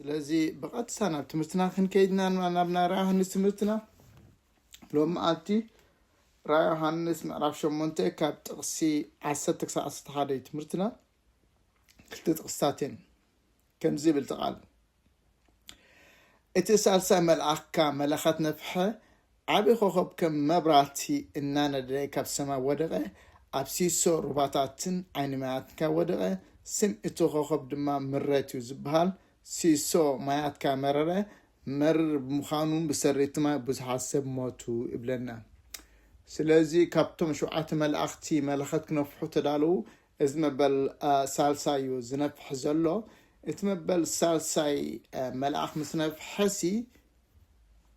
ስለዚ ብቐጥታ ናብ ትምህርትና ክንከይድ ኢና ናብ ናይ ራእይ ዮሃንስ ትምህርትና ሎም መዓልቲ ራእይ ዮሃንስ ምዕራፍ ሸሞንተ ካብ ጥቕሲ ዓሰርተ ክሳብ ዓሰርተ ሓደ እዩ ትምህርትና ክልተ ጥቕስታት እየን ከምዚ ይብል እቲ ቃል እቲ ሳልሳይ መልኣኽ ካብ መለኸት ነፍሐ ዓቢ ኮኾብ ከም መብራህቲ እናነደደ ካብ ሰማይ ወደቐ፣ ኣብ ሲሶ ሩባታትን ዓይኒ ማያትን ከኣ ወደቐ፣ ስም እቲ ኮኾብ ድማ ምረት እዩ ዝበሃል፣ ሲሶ ማያት ከኣ መረረ፣ መሪር ብምዃኑ ብሰሪ እቲ ማይ ብዙሓት ሰብ ሞቱ ይብለና። ስለዚ ካብቶም ሸውዓተ መላእኽቲ መለኸት ክነፍሑ ተዳለዉ፣ እዚ መበል ሳልሳይ እዩ ዝነፍሕ ዘሎ፣ እቲ መበል ሳልሳይ መልኣኽ ምስ ነፍሐሲ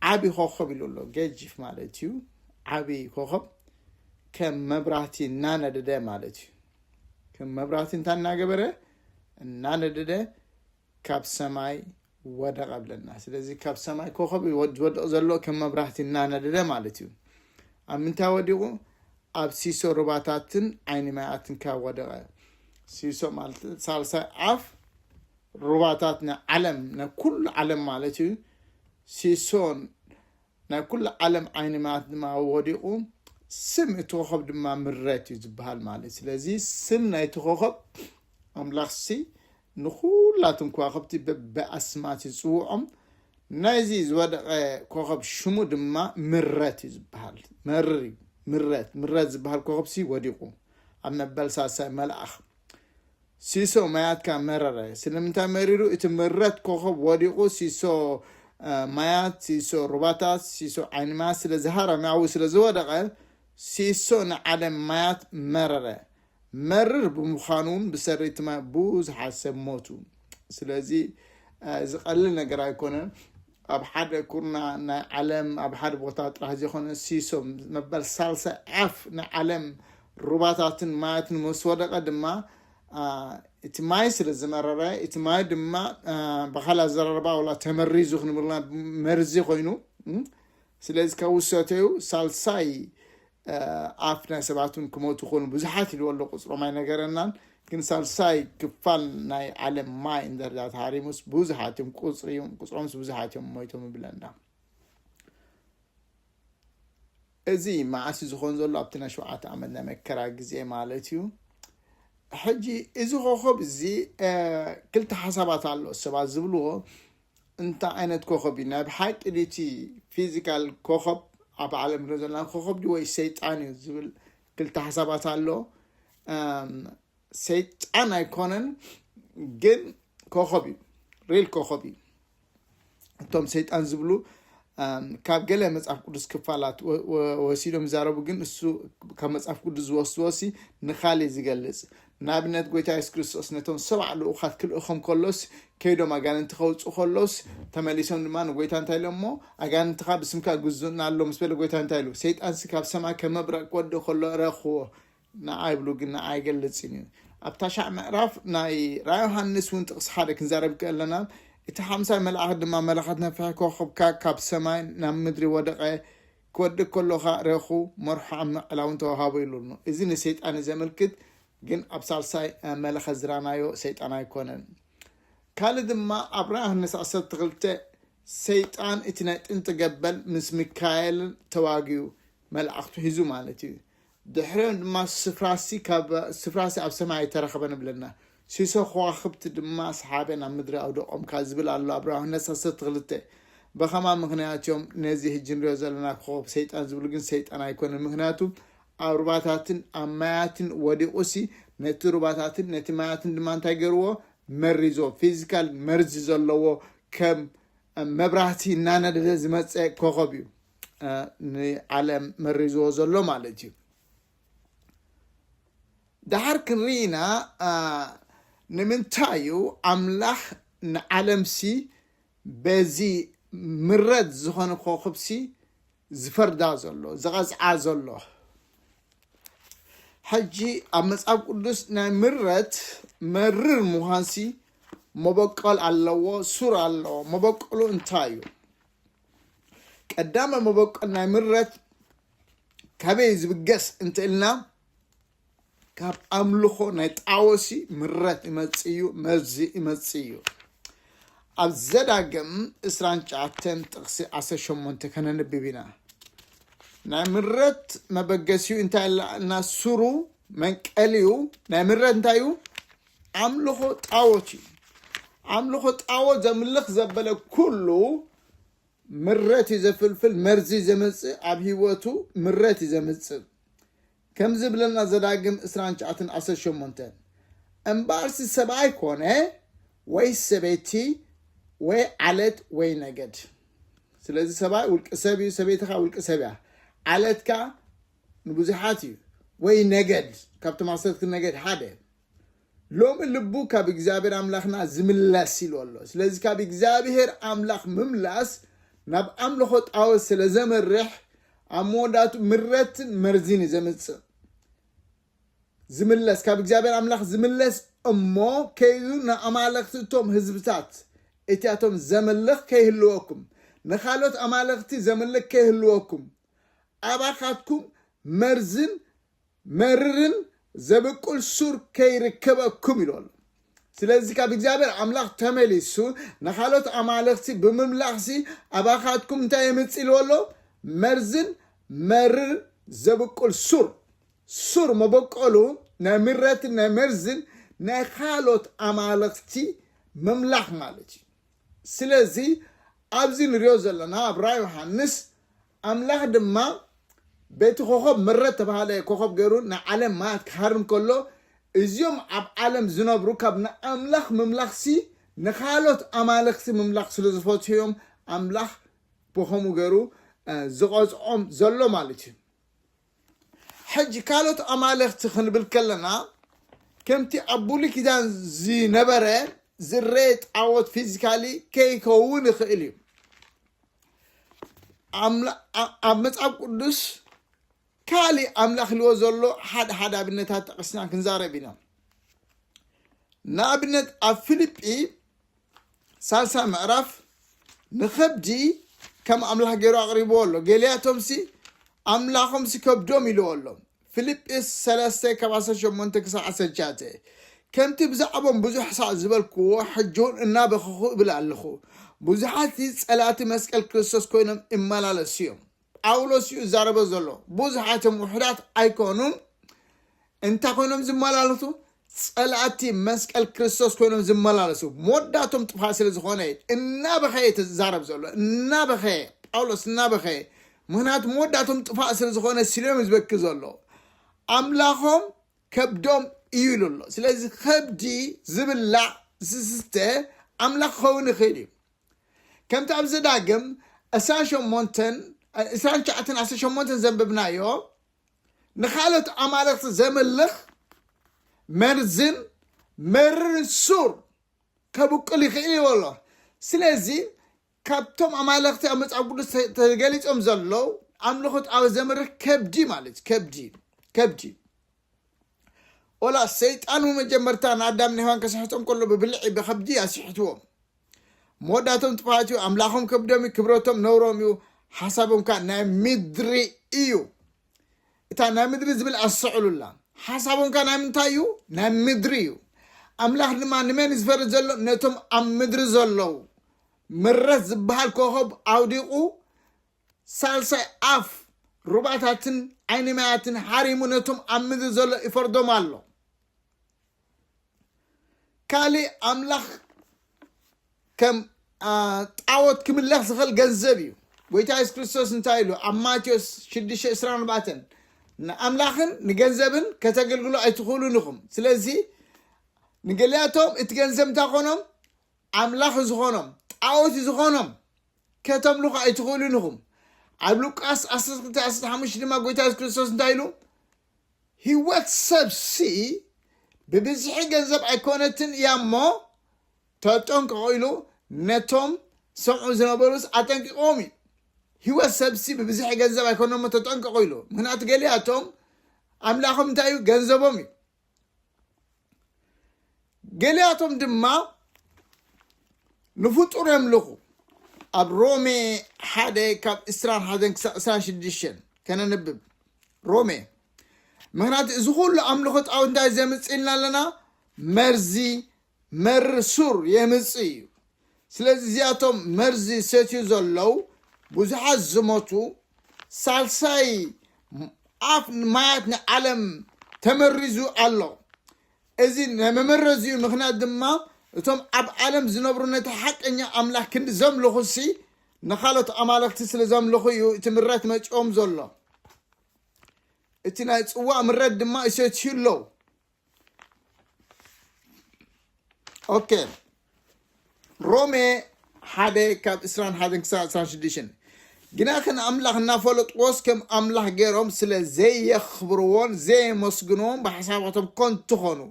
ዓቢ ኮኾብ ኢሉ ኣሎ ገጂፍ ማለት እዩ ዓቢ ኮኾብ ከም መብራህቲ እናነደደ ማለት እዩ ከም መብራህቲ እንታይ እናገበረ እናነደደ ካብ ሰማይ ወደቐ ብለና ስለዚ ካብ ሰማይ ኮኸብ ዝወድቕ ዘሎ ከም መብራህቲ እናነደደ ማለት እዩ ኣብ ምንታይ ወዲቑ ኣብ ሲሶ ሩባታትን ዓይኒ ማያትን ካብ ወደቐ ሲሶ ማለት ሳልሳይ ዓፍ ሩባታት ናይ ዓለም ናይ ኩሉ ዓለም ማለት እዩ ሲሶን ናይ ኩሉ ዓለም ዓይኒ ማያት ድማ ወዲቑ ስም እቲ ኮኸብ ድማ ምረት እዩ ዝበሃል ማለት እዩ ስለዚ ስም ናይቲ ኮኸብ ኣምላኽሲ ንኩላቶም ከዋኽብቲ በብኣስማት ይፅውዖም ናይዚ ዝወደቐ ኮኸብ ሽሙ ድማ ምረት እዩ ዝበሃል መርር እዩ ምረት ምረት ዝበሃል ኮኸብሲ ወዲቑ ኣብ መበል ሳልሳይ መልኣኽ ሲሶ ማያትካ መረረ ስለምንታይ መሪሩ እቲ ምረት ኮኾብ ወዲቁ ሲሶ ማያት ሲሶ ሩባታት ሲሶ ዓይኒ ማያት ስለ ዝሃረመ ኣብኡ ስለ ዝወደቀ ሲሶ ንዓለም ማያት መረረ መርር ብምዃኑ እውን ብሰሪ እቲ ማይ ብዙሓት ሰብ ሞቱ ስለዚ ዝቀልል ነገር ኣይኮነን ኣብ ሓደ ኩርናዕ ናይ ዓለም ኣብ ሓደ ቦታ ጥራሕ ዘይኮነ ሲሶ መበል ሳልሳይ ዓፍ ናይ ዓለም ሩባታትን ማያትን ምስ ወደቐ ድማ እቲ ማይ ስለ ዝመረረ እቲ ማይ ድማ ብካል ኣዘራርባ ዋላ ተመሪዙ ክንብልና መርዚ ኮይኑ ስለዚ ካብ ውሰተዩ ሳልሳይ ኣፍ ናይ ሰባት እውን ክመቱ ኮኑ ብዙሓት ኢልዎ ኣሎ ቁፅሮም ኣይነገረናን ግን ሳልሳይ ክፋል ናይ ዓለም ማይ እንደርዳ ተሃሪሙስ ብዙሓት እዮም ቁፅሪ እዮም ቁፅሮምስ ብዙሓት እዮም ሞይቶም ይብለና እዚ መዓስ ዝኾን ዘሎ ኣብቲ ናይ ሸውዓተ ዓመት ናይ መከራ ግዜ ማለት እዩ ሕጂ እዚ ኮኸብ እዚ ክልተ ሓሳባት ኣሎ ሰባት ዝብልዎ እንታይ ዓይነት ኮኾብ እዩ ናይ ብሓቂ ድቲ ፊዚካል ኮኾብ ኣብ ዓለም ንሪኦ ዘለና ኮኾብ ድዩ ወይ ሰይጣን እዩ ዝብል ክልተ ሓሳባት ኣሎ ሰይጣን ኣይኮነን ግን ኮኾብ እዩ ሪል ኮኾብ እዩ እቶም ሰይጣን ዝብሉ ካብ ገለ መፅሓፍ ቅዱስ ክፋላት ወሲዶም ይዛረቡ ግን እሱ ካብ መፅሓፍ ቅዱስ ዝወስድዎ ሲ ንካሊእ ዝገልፅ ንኣብነት ጎይታ የሱስ ክርስቶስ ነቶም ሰብዓ ልኡኻት ክልእኾም ከሎስ ከይዶም ኣጋንንቲ ከውጽኡ ከሎስ ተመሊሶም ድማ ንጎይታ እንታይ ኢሎሞ ኣጋንንትኻ ብስምካ ይግዙኡና ኣሎ ምስ በለ ጎይታ እንታይ ኢሉ ሰይጣንሲ ካብ ሰማይ ከም መብረቕ ክወድእ ከሎ ረኽዎ ንዓ ይብሉ ግን ንዓ ኣይገልጽን እዩ ኣብ ታሻዕ ምዕራፍ ናይ ራእይ ዮሃንስ እውን ጥቕሲ ሓደ ክንዛረብ ከለና እቲ ሓምሳይ መልኣኽ ድማ መለኸት ነፍሒ ኮኸብካ ካብ ሰማይ ናብ ምድሪ ወደቐ ክወድቅ ከሎ ከኣ ረኹ መርሖ ኣብ ምዕላውን ተዋሃቦ ኢሉ ኣሎ። እዚ ንሰይጣን እዩ ዘመልክት ግን ኣብ ሳልሳይ መለኸት ዝራናዮ ሰይጣን ኣይኮነን። ካልእ ድማ ኣብ ራእ ዮሃንስ ዓሰርተ ክልተ ሰይጣን እቲ ናይ ጥንቲ ገበል ምስ ሚካኤል ተዋጊኡ መልኣኽቱ ሒዙ ማለት እዩ። ድሕሪኦም ድማ ስፍራሲ ካብ ስፍራሲ ኣብ ሰማይ ኣይተረኸበን እብለና። ሲሶ ኸዋኽብቲ ድማ ሰሓበ ናብ ምድሪ ኣውደቖም ካብ ዝብል ኣሎ ኣብ ራሁ ነት ዓሰርተ ክልተ። ብኸማ ምኽንያት እዮም ነዚ ህጂ ንሪኦ ዘለና ኮኾብ ሰይጣን ዝብሉ ግን ሰይጣን ኣይኮነን ምኽንያቱ ኣብ ሩባታትን ኣብ ማያትን ወዲቑሲ ነቲ ሩባታትን ነቲ ማያትን ድማ እንታይ ገርዎ መሪዞ ፊዚካል መርዚ ዘለዎ ከም መብራህቲ እናነደደ ዝመፀ ኮኾብ እዩ። ንዓለም መሪዝዎ ዘሎ ማለት እዩ ድሓር ክንርኢና ንምንታይ እዩ ኣምላኽ ንዓለምሲ በዚ ምረት ዝኾነ ኮኽብሲ ዝፈርዳ ዘሎ ዝቐዝዓ ዘሎ ሕጂ ኣብ መጽሓፍ ቅዱስ ናይ ምረት መርር ምዃንሲ መበቆል ኣለዎ ሱር ኣለዎ መበቆሉ እንታይ እዩ ቀዳመ መበቆል ናይ ምረት ካበይ ዝብገስ እንትእልና ካብ ኣምልኾ ናይ ጣወሲ ምረት ይመጽእ እዩ መርዚ ይመጽእ እዩ ኣብ ዘዳግም እስራን ሸዓተን ጥቕሲ ዓሰርተ ሸሞንተ ከነንብብ ኢና ናይ ምረት መበገሲኡ እንታይ ኣላ እና ሱሩ መንቀሊኡ ናይ ምረት እንታይ እዩ ኣምልኾ ጣዖት እዩ። ኣምልኾ ጣዖት ዘምልኽ ዘበለ ኩሉ ምረት እዩ ዘፍልፍል፣ መርዚ እዩ ዘምጽእ፣ ኣብ ህይወቱ ምረት እዩ ዘምጽእ። ከምዚ ይብለና ዘዳግም ዕስራን ትሽዓተን ዓሰርተ ሸሞንተ እምበኣርሲ ሰብኣይ ኮነ ወይስ ሰበይቲ ወይ ዓለት ወይ ነገድ። ስለዚ ሰብኣይ ውልቂ ሰብ እዩ፣ ሰበይትኻ ውልቂ ሰብ እያ፣ ዓለትካ ንብዙሓት እዩ ወይ ነገድ ካብቶም ዓሰርተ ነገድ ሓደ ሎሚ ልቡ ካብ እግዚኣብሔር ኣምላኽና ዝምለስ ኢሉ ኣሎ ስለዚ ካብ እግዚኣብሔር ኣምላኽ ምምላስ ናብ ኣምልኾ ጣወት ስለ ዘመርሕ ኣብ መወዳቱ ምረትን መርዚን እዩ ዘምፅእ ዝምለስ ካብ እግዚኣብሔር ኣምላኽ ዝምለስ እሞ ከይዱ ንኣማለኽቲ እቶም ህዝብታት እቲያቶም ዘምልኽ ከይህልወኩም ንካልኦት ኣማለኽቲ ዘምልክ ከይህልወኩም ኣባኻትኩም መርዝን መርርን ዘብቁል ሱር ከይርከበኩም ኢሉ ኣሎ ስለዚ ካብ እግዚኣብሔር ኣምላኽ ተመሊሱ ንካልኦት ኣማልኽቲ ብምምላኽሲ ኣባኻትኩም እንታይ የምፅእ ኢልዎ ኣሎ መርዝን መርር ዘብቁል ሱር ሱር መበቆሉ ናይ ምረትን ናይ መርዝን ናይ ካልኦት ኣማልኽቲ ምምላኽ ማለት እዩ ስለዚ ኣብዚ ንሪኦ ዘለና ኣብ ራኢ ዮሃንስ ኣምላኽ ድማ በቲ ኮኾብ ምረት ተባሃለ ኮኾብ ገሩ ንዓለም ማያት ክሃርም ከሎ እዚኦም ኣብ ዓለም ዝነብሩ ካብ ንኣምላኽ ምምላኽሲ ንካሎት ኣማልኽቲ ምምላኽ ስለ ዝፈትሑዮም ኣምላኽ ብኸምኡ ገሩ ዝቐጽዖም ዘሎ ማለት እዩ ሕጂ ካልኦት ኣማልኽቲ ክንብል ከለና ከምቲ ኣብ ብሉይ ኪዳን ዝነበረ ዝረኤ ጣዖት ፊዚካሊ ከይከውን ይኽእል እዩ ኣብ መጽሓፍ ቅዱስ ካልእ ኣምላኽ ልዎ ዘሎ ሓደ ሓደ ኣብነታት ጠቂስና ክንዛረብ ኢና ንኣብነት ኣብ ፊልጲ ሳልሳይ ምዕራፍ ንኸብዲ ከም ኣምላኽ ገይሩ ኣቕሪብዎ ኣሎ ገሊያቶምሲ ኣምላኾምሲ ከብዶም ኢልዎ ኣሎ ፊልጵስ 3 ካብ 18 ክሳብ 19 ከምቲ ብዛዕቦም ብዙሕ ሳዕ ዝበልክዎ ሕጂውን እናበኸኹ እብል ኣለኹ ብዙሓት ጸላእቲ መስቀል ክርስቶስ ኮይኖም ይመላለሱ እዮም ጳውሎስ እዩ ዛረበ ዘሎ ብዙሓት እዮም ውሕዳት ኣይኮኑን እንታይ ኮይኖም ዝመላለሱ ጸላእቲ መስቀል ክርስቶስ ኮይኖም ዝመላለሱ መወዳቶም ጥፋ ስለ ዝኾነ እዩ እናበኸየ እቲ ዝዛረብ ዘሎ እናበኸየ ጳውሎስ እናበኸየ ምክንያቱ መወዳቶም ጥፋእ ስለ ዝኾነ ስልዮም እዩ ዝበኪ ዘሎ ኣምላኾም ከብዶም እዩ ኢሉ ኣሎ ስለዚ ከብዲ ዝብላዕ ዝስተ ኣምላኽ ክኸውን ይኽእል እዩ ከምቲ ኣብ ዘዳግም ዕስራን ሸሞንተን እ- ዕስራን ትሽዓተን ዓሰርተ ሸሞንተን ዘንብብናዮ ንካልኦት ኣማልኽቲ ዘምልኽ መርዝን መርርን ሱር ከብቁል ይኽእል እዩ ኣሎ ስለዚ ካብቶም ኣማልኽቲ ኣብ መፅሓፍ ቅዱስ ተ- ተገሊፆም ዘለዉ ኣምልኾ ጣዖት ዘምርህ ከብዲ ማለት እዩ ከብዲ ከብዲ ወላ ሰይጣን መጀመርታ ንኣዳም ንሔዋን ከስሕቶም ከሎ ብብልዒ ብከብዲ ኣስሕትዎም መወዳእቶም ጥፍኣት እዩ ኣምላኾም ከብዶም እዩ ክብረቶም ነውሮም እዩ ሓሳቦም ከዓ ናይ ምድሪ እዩ እታ ናይ ምድሪ ዝብል ኣሰዕሉላ ሓሳቦም ከዓ ናይ ምንታይ እዩ ናይ ምድሪ እዩ ኣምላኽ ድማ ንመን ዝፈር ዘሎ ነቶም ኣብ ምድሪ ዘለዉ ምረት ዝበሃል ኮኸብ ኣውዲቑ ሳልሳይ ኣፍ ሩባታትን ዓይኒ ማያትን ሓሪሙ ነቶም ኣብ ምድሪ ዘሎ ይፈርዶም ኣሎ ካልእ ኣምላኽ ከም ጣዖት ክምለኽ ዝኽእል ገንዘብ እዩ ጎይታ የሱስ ክርስቶስ እንታይ ኢሉ ኣብ ማቴዎስ 624 ንኣምላኽን ንገንዘብን ከተገልግሉ ኣይትኽእሉን ኢኹም ስለዚ ንገሊኣቶም እቲ ገንዘብ እንታይ ኾኖም ኣምላኽ ዝኾኖም ጣዖት ዝኾኖም ከተምልኹ ኣይትኽእሉን ኢኹም ኣብ ሉቃስ 1215 ድማ ጎይታ የሱስ ክርስቶስ እንታይ ኢሉ ሂወት ሰብ ሲ ብብዝሒ ገንዘብ ኣይኮነትን እያ እሞ ተጠንቀቁ ኢሉ ነቶም ዝሰምዑ ዝነበሩስ ኣጠንቂቅዎም እዩ ሂወት ሰብ ሲ ብብዝሒ ገንዘብ ኣይኮነ እሞ ተጠንቀቁ ኢሉ ምክንያቱ ገሊኣቶም ኣምላኮም እንታይ እዩ ገንዘቦም እዩ ገሊኣቶም ድማ ንፍጡር የምልኹ ኣብ ሮሜ ሓደ ካብ እስራን ሓደን ክሳብ እስራን ሽዱሽተን ከነንብብ ሮሜ ምክንያቱ እዚ ኩሉ ኣምልኾ ጣዖት እንታይ ዘምፅእ ኢልና ኣለና መርዚ መርር ሱር የምፅእ እዩ ስለዚ እዚኣቶም መርዚ ዝሰትዩ ዘለው ብዙሓት ዝሞቱ ሳልሳይ ኣፍ ማያት ናይ ዓለም ተመሪዙ ኣሎ እዚ መመረዚኡ ምክንያት ድማ እቶም ኣብ ዓለም ዝነብሩ ነቲ ሓቀኛ ኣምላኽ ክንዲ ዘምልኹሲ ንካልኦት ኣማለኽቲ ስለ ዘምልኹ እዩ እቲ ምረት መፂኦም ዘሎ እቲ ናይ ፅዋእ ምረት ድማ ይሰትዩ ኣለዉ ኦኬ ሮሜ ሓደ ካብ እስራን ሓደን ክሳብ እስራን ሽዱሽን ግና ከን ኣምላኽ እናፈለጥዎስ ከም ኣምላኽ ገይሮም ስለ ዘየኽብርዎን ዘየመስግንዎን ብሓሳባቶም ኮንቱ ኾኑ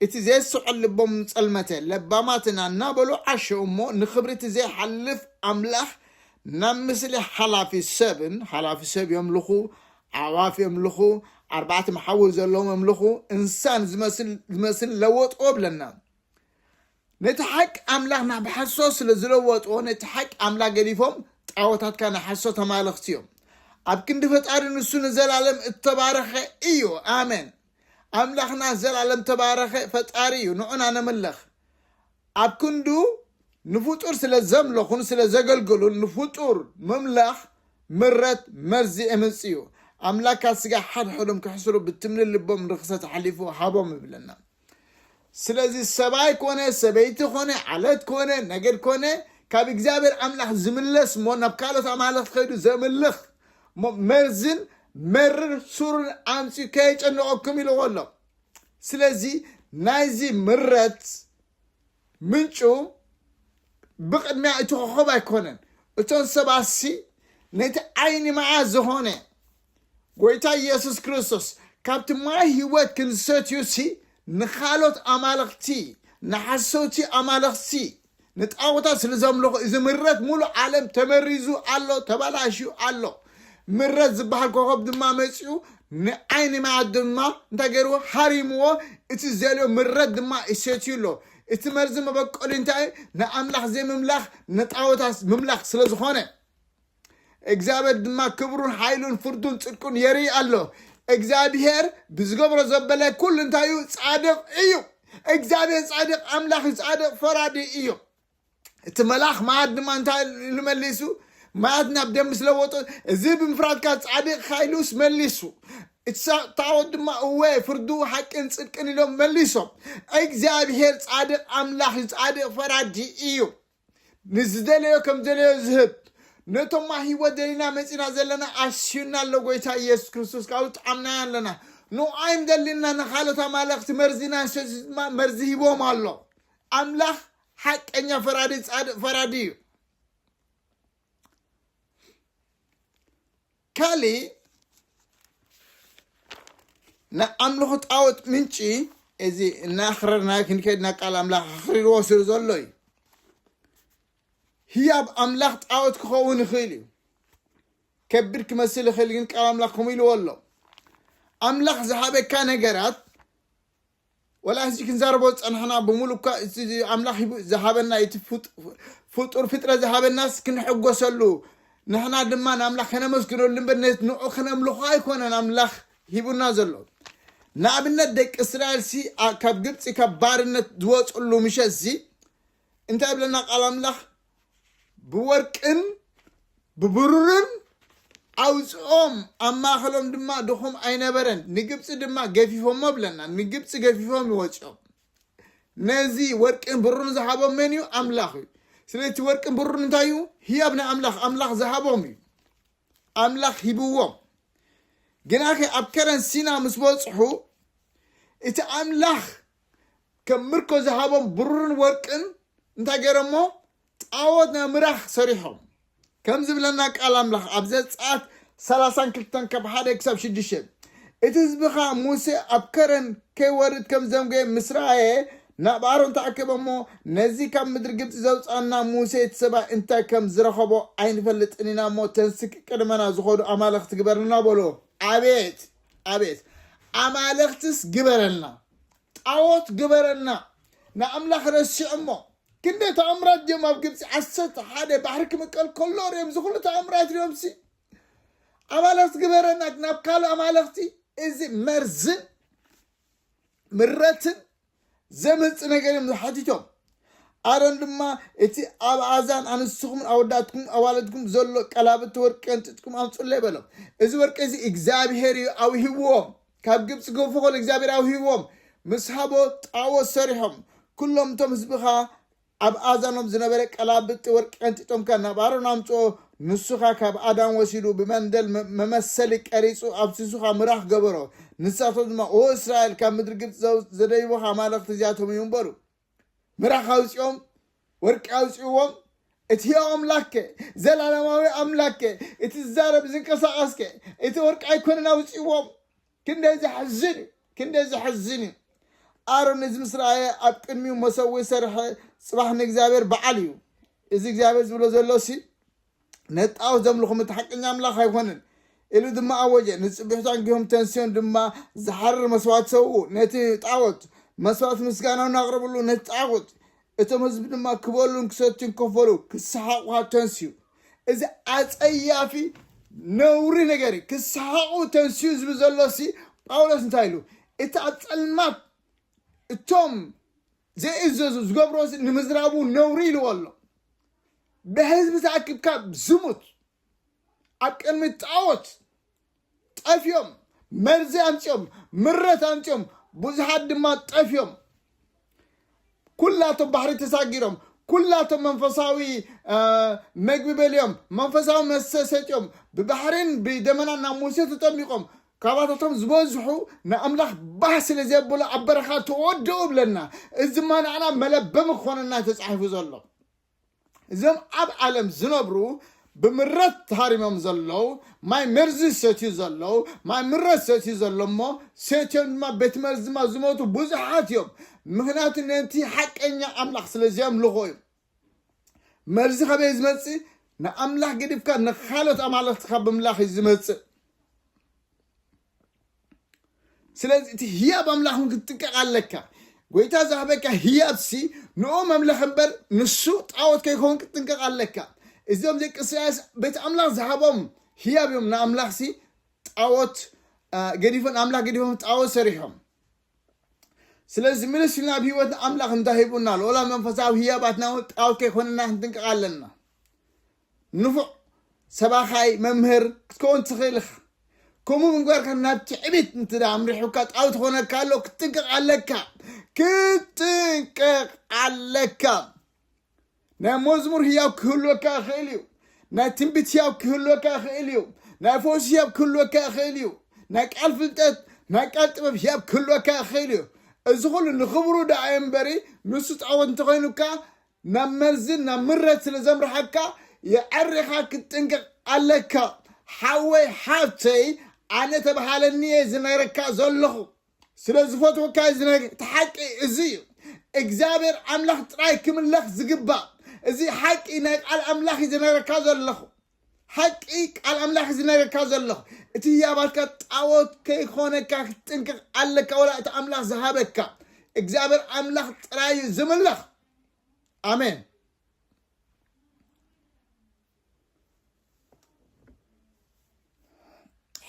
እቲ ዘየስዕል ልቦም ጸልመተ ለባማትና እናበሉ ዓሸ እሞ ንኽብሪ እቲ ዘይሓልፍ ኣምላኽ ናብ ምስሊ ሓላፊ ሰብን ሓላፊ ሰብ የምልኹ ኣዕዋፍ የምልኹ፣ ኣርባዕተ መሓውር ዘለዎም የምልኹ፣ እንሳን ዝመስልን ለወጥዎ ብለና። ነቲ ሓቂ ኣምላኽ ናብ ሓሶት ስለ ዝለወጥዎ፣ ነቲ ሓቂ ኣምላኽ ገዲፎም ጣዖታትካ ናይ ሓሶት ኣማልኽቲ እዮም። ኣብ ክንዲ ፈጣሪ ንሱ ንዘላለም እተባረኸ እዩ። ኣሜን። ኣምላኽና ዘላለም ተባረኸ ፈጣሪ እዩ፣ ንዑና ነምልኽ። ኣብ ክንዱ ንፍጡር ስለ ዘምለኹን ስለ ዘገልገሉን ንፍጡር ምምላኽ ምረት መርዚ ኤምጽእ እዩ። ኣምላካት ስጋ ሓድሕዶም ክሕስሩ ብትምሊ ልቦም ርኽሰት ኣሕሊፉ ሃቦም ይብለና። ስለዚ ሰብኣይ ኮነ ሰበይቲ ኮነ ዓለት ኮነ ነገድ ኮነ ካብ እግዚኣብሔር ኣምላኽ ዝምለስ እሞ ናብ ካልኦት ኣማልኽቲ ከይዱ ዘምልኽ እሞ መርዝን መርር ሱርን ኣምጽኡ ከየጨንቐኩም ኢልዎ ኣሎ። ስለዚ ናይዚ ምረት ምንጩ ብቕድሚያ እቲ ኮኸብ ኣይኮነን እቶን ሰባሲ ነቲ ዓይኒ መዓ ዝኾነ ጎይታ ኢየሱስ ክርስቶስ ካብቲ ማይ ህይወት ክንሰትዩሲ ንኻሎት ኣማልኽቲ ንሓሰውቲ ኣማልኽቲ ንጣኦታት ስለ ዘምልኹ እዚ ምረት ሙሉእ ዓለም ተመሪዙ ኣሎ፣ ተበላሽዩ ኣሎ። ምረት ዝበሃል ኮኸብ ድማ መጺኡ ንዓይኒ ማያት ድማ እንታይ ገይርዎ ሃሪምዎ፣ እቲ ዘልዮ ምረት ድማ ይሰትዩ ኣሎ። እቲ መርዚ መበቆሊ እንታይ እዩ? ንኣምላኽ ዘይምምላኽ ንጣኦታት ምምላኽ ስለ ዝኾነ። እግዚኣብሔር ድማ ክብሩን ሓይሉን ፍርዱን ጽድቁን የርኢ ኣሎ እግዚኣብሔር ብዝገብሮ ዘበለ ኩሉ እንታይ እዩ ጻድቕ እዩ እግዚኣብሔር ጻድቕ ኣምላኽ እዩ ጻድቕ ፈራዲ እዩ እቲ መልኣኽ ማያት ድማ እንታይ ኢሉ መሊሱ ማያት ናብ ደም ምስ ለወጦ እዚ ብምፍራድካ ጻድቕካ ኢሉስ መሊሱ እሳ- ታቦት ድማ እወ ፍርዱ ሓቅን ጽድቅን ኢሎም መሊሶም እግዚኣብሔር ጻድቕ ኣምላኽ እዩ ጻድቕ ፈራዲ እዩ ንዝደለዮ ከም ደለዮ ዝህብ ነቶማ ህይወት ደሊና መፂና ዘለና ኣስዩና ኣሎ ጎይታ ኢየሱስ ክርስቶስ ካብኡ ጠዓምናዮ ኣለና ንዓይም ደሊና ንካሎት ኣማለኽቲ መርዚ ናሰዚ ድማ መርዚ ሂቦም ኣሎ ኣምላኽ ሓቀኛ ፈራዲ ፃድቅ ፈራዲ እዩ ካልእ ናይ ኣምልኹ ጣወት ምንጪ እዚ እናኣኽረርና ክንከድ ናብ ቃል ኣምላኽ ኣኽሪርዎ ስለ ዘሎ እዩ ህያብ ኣምላኽ ጣወት ክኸውን ይኽእል እዩ ከቢድ ክመስል ይኽእል ግን ቃል ኣምላኽ ከምኡ ኢልዎ ኣሎ ኣምላኽ ዝሃበካ ነገራት ወላ ሕዚ ክንዛረቦ ዝጸናሕና ብምሉእ እኳ እቲ ኣምላኽ ሂቡ- ዝሃበና እቲ ፍጡ- ፍጡር ፍጥረት ዝሃበናስ ክንሕጎሰሉ ንሕና ድማ ንኣምላኽ ከነመስግነሉ እምበር ነ- ንዑ ክነምልኾ ኣይኮነን ኣምላኽ ሂቡና ዘሎ ንኣብነት ደቂ እስራኤል ሲ ኣ- ካብ ግብፂ ካብ ባርነት ዝወፅሉ ምሸት እዚ እንታይ ብለና ቃል ኣምላኽ ብወርቅን ብብሩርን ኣውፅኦም ኣብ ማእኸሎም ድማ ድኹም ኣይነበረን ንግብፂ ድማ ገፊፎሞ ብለና ንግብፂ ገፊፎም ይወፅኦም ነዚ ወርቅን ብሩርን ዝሃቦም መን እዩ ኣምላኽ እዩ ስለቲ ወርቅን ብሩርን እንታይ እዩ ህያብ ናይ ኣምላኽ ኣምላኽ ዝሃቦም እዩ ኣምላኽ ሂብዎም ግናኸ ኣብ ከረን ሲና ምስ በፅሑ እቲ ኣምላኽ ከም ምርኮ ዝሃቦም ብሩርን ወርቅን እንታይ ገይሮሞ ጣዖት ናይ ምራኽ ሰሪሖም ከም ዝብለና ቃል ኣምላኽ ኣብ ዘፀኣት ሰላሳን ክልተን ካብ ሓደ ክሳብ ሽዱሽተ እቲ ህዝቢ ከዓ ሙሴ ኣብ ከረን ከይወርድ ከም ዘምገየ ምስ ረኣየ ናብ ኣሮን ተኣከበ እሞ ነዚ ካብ ምድሪ ግብፂ ዘውፅኣና ሙሴ እቲ ሰብኣይ እንታይ ከም ዝረኸቦ ኣይንፈልጥን ኢና እሞ ተንስኪ ቅድመና ዝኾዱ ኣማልኽቲ ግበርልና በሎ ኣቤት ኣቤት ኣማልኽትስ ግበረልና ጣዖት ግበረልና ንኣምላኽ ረሲዖሞ ክንደይ ተኣምራት ድዮም ኣብ ግብፂ ዓሰርተ ሓደ ባሕሪ ክምቀል ከሎ ርዮም እዚ ኩሉ ተኣምራት ርዮም ሲ ኣማልኽቲ ግበረና ናብ ካልእ ኣማልኽቲ እዚ መርዝን ምረትን ዘምጽ ነገር እዮም ሓቲቶም ኣሮን ድማ እቲ ኣብ ኣእዛን ኣንስትኹምን ኣወዳትኩም ኣዋልድኩም ዘሎ ቀላብቲ ወርቂ ቀንጢጥኩም ኣምፅለይ በሎም እዚ ወርቂ እዚ እግዚኣብሄር እዩ ኣውሂብዎም ካብ ግብፂ ገፎ ከሎ እግዚኣብሄር ኣውሂብዎም ምስ ሃቦ ጣዖት ሰሪሖም ኩሎም እቶም ህዝብኻ ኣብ ኣእዛኖም ዝነበረ ቀላብጢ ወርቂ ቀንጢጦም ከኣ ናብ ኣሮን ኣምጽኦ፣ ንሱ ከኣ ካብ ኣዳም ወሲዱ ብመንደል መመሰሊ ቀሪጹ ኣብ ስሱኻ ምራኽ ገበሮ። ንሳቶም ድማ፣ ኦ እስራኤል፣ ካብ ምድሪ ግብጺ ዘደይቡኻ ኣማልኽቲ እዚኣቶም እዮም በሉ። ምራኽ ኣውጺኦም፣ ወርቂ ኣውጺእዎም፣ እቲ ሕያው ኣምላክከ፣ ዘላለማዊ ኣምላክከ፣ እቲ ዝዛረብ ዝንቀሳቐስከ፣ እቲ ወርቂ ኣይኰነን ኣውጺእዎም? ክንደይ ዘሕዝን እዩ ክንደይ ዘሕዝን እዩ ኣሮን እዚ ምስ ረኣየ ኣብ ቅድሚኡ መሰዊ ሰርሐ ጽባሕ ንእግዚኣብሔር በዓል እዩ እዚ እግዚኣብሔር ዝብሎ ዘሎ ሲ ነጣው ዘምልኹም እቲ ሓቀኛ ኣምላኽ ኣይኮንን ኢሉ ድማ ኣወጀ ንፅብሕቱ ኣንጊሆም ተንስዮን ድማ ዝሓርር መስዋእት ሰውኡ ነቲ ጣዖት መስዋእት ምስጋናውን ኣቕርብሉ ነቲ ጣዖት እቶም ህዝቢ ድማ ክበሉን ክሰትዩን ከፈሉ ክሰሓቑኻ ተንስኡ። እዚ ኣጸያፊ ነውሪ ነገር እዩ። ክሰሓቑ ተንስኡ ዝብል ዘሎሲ ጳውሎስ እንታይ ኢሉ? እቲ ኣብ ጸልማት እቶም ዘይእዘዙ ዝገብሮ ንምዝራቡ ነውሪ ኢልዎ ኣሎ። ብህዝቢ ተኣኪብካ ዝሙት ኣብ ቅድሚ ጣዖት ጠፍዮም መርዚ ኣምፅኦም ምረት ኣምፅኦም ብዙሓት ድማ ጠፍዮም ኩላቶም ባሕሪ ተሳጊሮም ኩላቶም መንፈሳዊ መግቢ በልዮም መንፈሳዊ መስተ ሰትዮም ብባሕሪን ብደመናን ናብ ሙሴ ተጠሚቆም ካባታቶም ዝበዝሑ ንኣምላኽ ባህ ስለ ዘብሎ ኣብ በረኻ ተወደኡ ብለና እዚ ድማ ንዓና መለበሚ ክኾነና ተፃሒፉ ዘሎ እዞም ኣብ ዓለም ዝነብሩ ብምረት ተሃሪሞም ዘለዉ ማይ መርዚ ዝሰትዩ ዘለዉ ማይ ምረት ሰትዩ ዘሎ እሞ ሰትዮም ድማ ቤት መርዚ ድማ ዝሞቱ ብዙሓት እዮም ምክንያቱ ነቲ ሓቀኛ ኣምላኽ ስለ ዘምልኾ እዩ መርዚ ከበይ ዝመፅእ ንኣምላኽ ገዲፍካ ንካልኦት ኣማለኽቲ ካብ ምምላኽ እዩ ዝመፅእ ስለዚ እቲ ህያብ ኣምላኽ እውን ክትጥቀቕ ኣለካ ጎይታ ዝሃበካ ህያብሲ ንኦ መምለኽ እምበር ንሱ ጣዖት ከይኸውን ክትጥንቀቕ ኣለካ እዚኦም ደቂ እስራኤል ቤት ኣምላኽ ዝሃቦም ህያብ እዮም ንኣምላኽሲ ጣዖት ገዲፎም ኣምላኽ ገዲፎም ጣዖት ሰሪሖም ስለዚ ምልስ ኢልና ኣብ ህይወትና ኣምላኽ እንታይ ሂቡና ኣሎ ወላ መንፈሳዊ ህያባትና እውን ጣዖት ከይኮነና ክንጥንቀቕ ኣለና ንፉዕ ሰባኻይ መምህር ክትከውን ትኽእል ኢኻ ከምኡ እንጓርካ ናብ ትዕቢት እንትዳ ኣምሪሑካ ጣውቲ ኮነካ ኣሎ ክትጥንቀቕ ኣለካ ክትጥንቀቕ ኣለካ ናይ መዝሙር ህያው ክህልወካ ይኽእል እዩ ናይ ትንቢት ህያው ክህልወካ ይኽእል እዩ ናይ ፈውሲ ህያብ ክህልወካ ይኽእል እዩ ናይ ቃል ፍልጠት ናይ ቃል ጥበብ ህያብ ክህልወካ ይኽእል እዩ እዚ ኩሉ ንኽብሩ ደኣ እምበሪ ንሱ ጣዖት እንተኮይኑካ ናብ መርዝን ናብ ምረት ስለ ዘምርሓካ የዐሪኻ ክትጥንቀቅ ኣለካ ሓወይ ሓፍተይ ኣነ ተበሃለኒ እየ ዝነግረካ ዘለኹ ስለ ዝፈትወካ እየ ዝነግር እቲ ሓቂ እዚ እዩ እግዚኣብሔር ኣምላኽ ጥራይ ክምለኽ ዝግባእ እዚ ሓቂ ናይ ቃል ኣምላኽ እዩ ዝነግረካ ዘለኹ ሓቂ ቃል ኣምላኽ ዝነገርካ ዘለኹ እቲ ህያባትካ ጣዖት ከይኾነካ ክትጥንቅቕ ኣለካ ወላ እቲ ኣምላኽ ዝሃበካ እግዚኣብሔር ኣምላኽ ጥራይ እዩ ዝምለኽ ኣሜን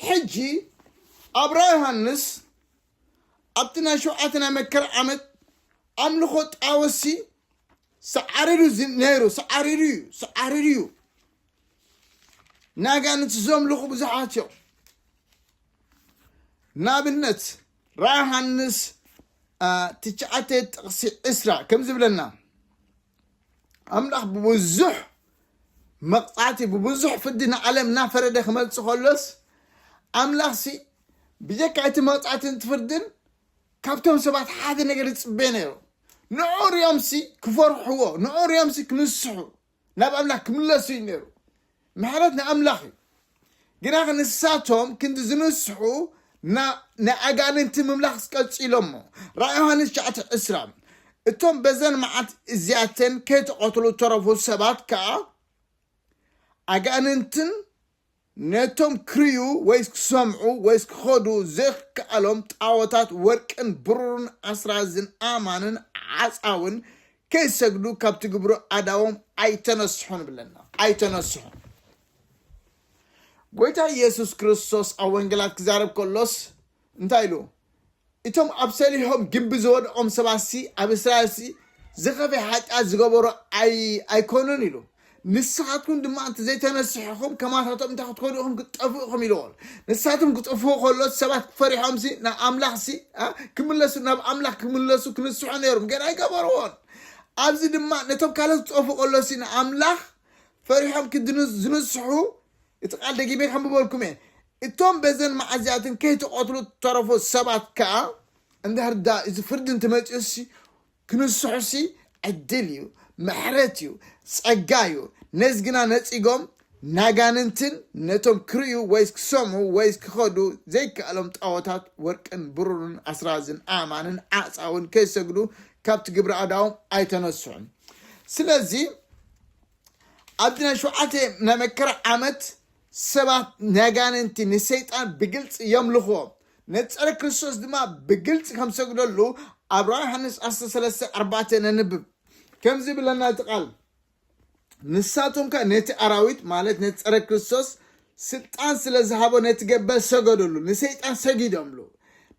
ሕጂ ኣብራ ዮሃንስ ኣብቲ ናይ ሸውዓተ ናይ መከራ ዓመት ኣምልኾ ጣወሲ ሳዓሪሩ እዩ ነይሩ ሳዓሪሩ እዩ ሳዓሪሩ እዩ ንኣጋንንቲ ዘምልኹ ብዙሓት እዮም ንኣብነት ራእይ ዮሃንስ ትሽዓተ ጥቕሲ ዕስራ ከም ዝብለና ኣምላኽ ብብዙሕ መቕፃዕቲ ብብዙሕ ፍርዲ ንዓለም እናፈረደ ክመልፅ ከሎስ ኣምላኽሲ ብጀካ እቲ መቕፃዕትን እቲ ፍርድን ካብቶም ሰባት ሓደ ነገር ዝፅበ ነይሩ ንዑ ሪኦምሲ ክፈርሕዎ ንዑ ሪኦምሲ ክንስሑ ናብ ኣምላኽ ክምለሱ እዩ ነይሩ ምሕረት ንኣምላኽ እዩ ግና ክንሳቶም ክንዲ ዝንስሑ ንኣጋንንቲ ምምላኽ ቀፂሎሞ ራእ ዮሃንስ ሸዓተ ዕስራ እቶም በዘን መዓት እዚኣተን ከይተቐትሉ ተረፉ ሰባት ከዓ ኣጋንንትን ነቶም ክርእዩ ወይስ ክሰምዑ ወይስ ክኸዱ ዘይክከኣሎም ጣዖታት ወርቅን ብሩርን ኣስራዝን ኣእማንን ዓጻውን ከይሰግዱ ካብ ትግብሩ ኣእዳዎም ኣይተነስሑን እብለና። ኣይተነስሑን። ጎይታ የሱስ ክርስቶስ ኣብ ወንጌላት ክዛረብ ከሎስ፣ እንታይ ኢሉ? እቶም ኣብ ሰሊሆም ግቢ ዝወድቖም ሰባትሲ ኣብ እስራኤልሲ ዝኸፍኤ ሓጢኣት ዝገበሩ ኣይኮኑን ኢሉ። ንስኻትኩም ድማ እንተ ዘይተነሲሕኹም ከማታቶም እንታይ ክትኮኑ ኢኹም ክትጠፍኡ ኢኹም ኢልዎ። ንሳቶም ክጥፍኡ ከሎስ ሰባት ፈሪሖምሲ ናብ ኣምላኽሲ ክምለሱ ናብ ኣምላኽ ክምለሱ ክንስሑ ነይሮም ግን ኣይገበርዎን። ኣብዚ ድማ ነቶም ካልኦት ክጠፍኡ ከሎሲ ንኣምላኽ ፈሪሖም ዝንስሑ እቲ ቃል ደጊመ ከንብበልኩም እየ እቶም በዘን መዓዚያትን ከይተቐትሉ ተረፉ ሰባት ከዓ እንድሕር ዳ እዚ ፍርዲ እንትመፅኡሲ ክንስሑሲ ዕድል እዩ ምሕረት እዩ ፀጋ እዩ ነዚ ግና ነፂጎም ናጋንንትን ነቶም ክርእዩ ወይስ ክሰምዑ ወይስ ክኸዱ ዘይከኣሎም ጣዖታት ወርቅን ብሩርን ኣስራዝን ኣእማንን ዓፃውን ከይሰግዱ ካብቲ ግብረ ኣዳዎም ኣይተነስሑን ስለዚ ኣብቲ ናይ ሸውዓተ ናይ መከራ ዓመት ሰባት ነጋንንቲ ንሰይጣን ብግልፂ የምልኽዎ ነቲ ፀረ ክርስቶስ ድማ ብግልፂ ከም ሰግደሉ ኣብ ራእይ ዮሃንስ ዓሰርተ ሰለስተ ኣርባዕተ ነንብብ ከምዚ ብለና እቲ ቃል ንሳቶም ከ ነቲ ኣራዊት ማለት ነቲ ፀረ ክርስቶስ ስልጣን ስለ ዝሃቦ ነቲ ገበል ሰገደሉ ንሰይጣን ሰጊዶምሉ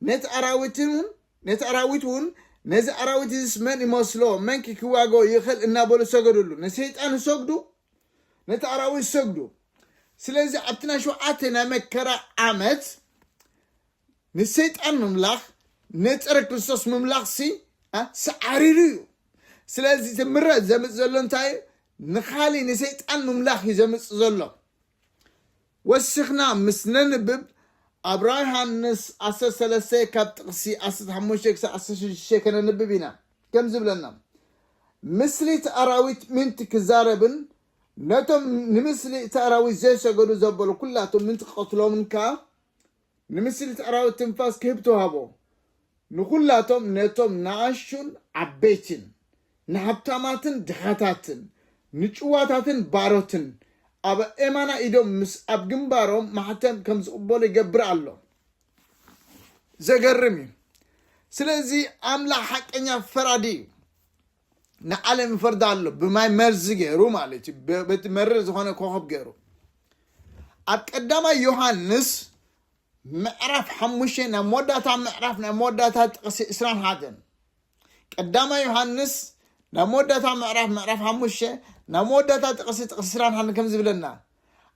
ነቲ ኣራዊትን እውን ነቲ ኣራዊት እውን ነዚ ኣራዊት እዚስ መን ይመስሎ መንኪ ክዋገኦ ይኽእል እናበሉ ሰገድሉ ንሰይጣን ዝሰግዱ ነቲ ኣራዊት ዝሰግዱ ስለዚ ኣብቲ ናይ ሸውዓተ ናይ መከራ ዓመት ንሰይጣን ምምላኽ ነፀረ ክርስቶስ ምምላኽ ሲ ሰዓሪሩ እዩ ስለዚ እቲ ምረት ዘምፅ ዘሎ እንታይ እዩ ንኻሊእ ንሰይጣን ምምላኽ እዩ ዘምፅ ዘሎ ወሲኽና ምስ ነንብብ ኣብ ራእይ ዮሃንስ ዓሰርተ ሰለስተ ካብ ጥቕሲ ዓሰርተ ሓሙሽተ ክሳብ ዓሰርተ ሽዱሽተ ከነንብብ ኢና። ከም ዝብለና ምስሊ እቲ ኣራዊት ምእንቲ ክዛረብን ነቶም ንምስሊ እቲ ኣራዊት ዘይሰገዱ ዘበሉ ኩላቶም ምእንቲ ክቐትሎምን ከኣ ንምስሊት ኣራዊት ትንፋስ ክህብ ተዋህቦ። ንኹላቶም ነቶም ንኣሽቱን ዓበይትን፣ ንሃብታማትን ድኻታትን፣ ንጭዋታትን ባሮትን፣ ኣብ ኣእማና ኢዶም ምስ ኣብ ግንባሮም ማሕተም ከም ዝቕበሉ ይገብር ኣሎ። ዘገርም እዩ። ስለዚ ኣምላኽ ሓቀኛ ፈራዲ እዩ። ንዓለም ይፈርዳ ኣሎ ብማይ መርዚ ገይሩ ማለት እዩ ብ- በቲ መርር ዝኾነ ኮኸብ ገይሩ ኣብ ቀዳማይ ዮሃንስ ምዕራፍ ሓሙሽተ ናይ መወዳእታ ምዕራፍ ናይ መወዳእታ ጥቕሲ ዕስራን ሓደን ቀዳማይ ዮሃንስ ናይ መወዳእታ ምዕራፍ ምዕራፍ ሓሙሽተ ናይ መወዳእታ ጥቕሲ ጥቕሲ ዕስራን ሓደን ከም ዝብለና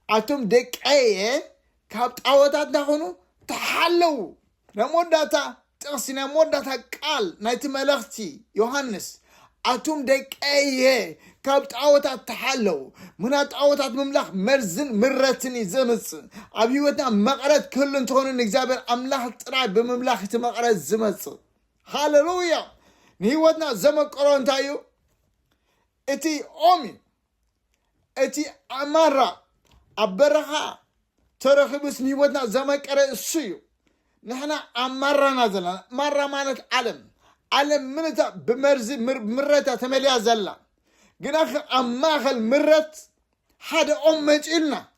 ኣቶም ደቀየ ካብ ጣዖታት ዳኹኑ ተሓለዉ። ናይ መወዳእታ ጥቕሲ፣ ናይ መወዳእታ ቃል ናይቲ መልእኽቲ ዮሃንስ፣ ኣቱም ደቀየ ካብ ጣዖታት ተሓለዉ፣ ምኽንያቱ ጣዖታት ምምላኽ መርዝን ምረትን እዩ ዘምጽእ። ኣብ ህይወትና መቐረት ክህሉ እንተኾነ ንእግዚኣብሔር ኣምላኽ ጥራይ ብምምላኽ እቲ መቐረት ዝመጽእ። ሃለሉያ! ንህይወትና ዘመቀሮ እንታይ እዩ? እቲ ኦም እዩ። እቲ ኣማራ ኣብ በረኻ ተረኺቡስ ንሂወትና ዘመቀረ እሱ እዩ ንሕና ኣብ ማራና ዘለና ማራ ማለት ዓለም ዓለም ምንታ ብመርዚ ምረታ ተመልያ ዘላ ግናኸ ኣብ ማእኸል ምረት ሓደ ኦም መፂኡልና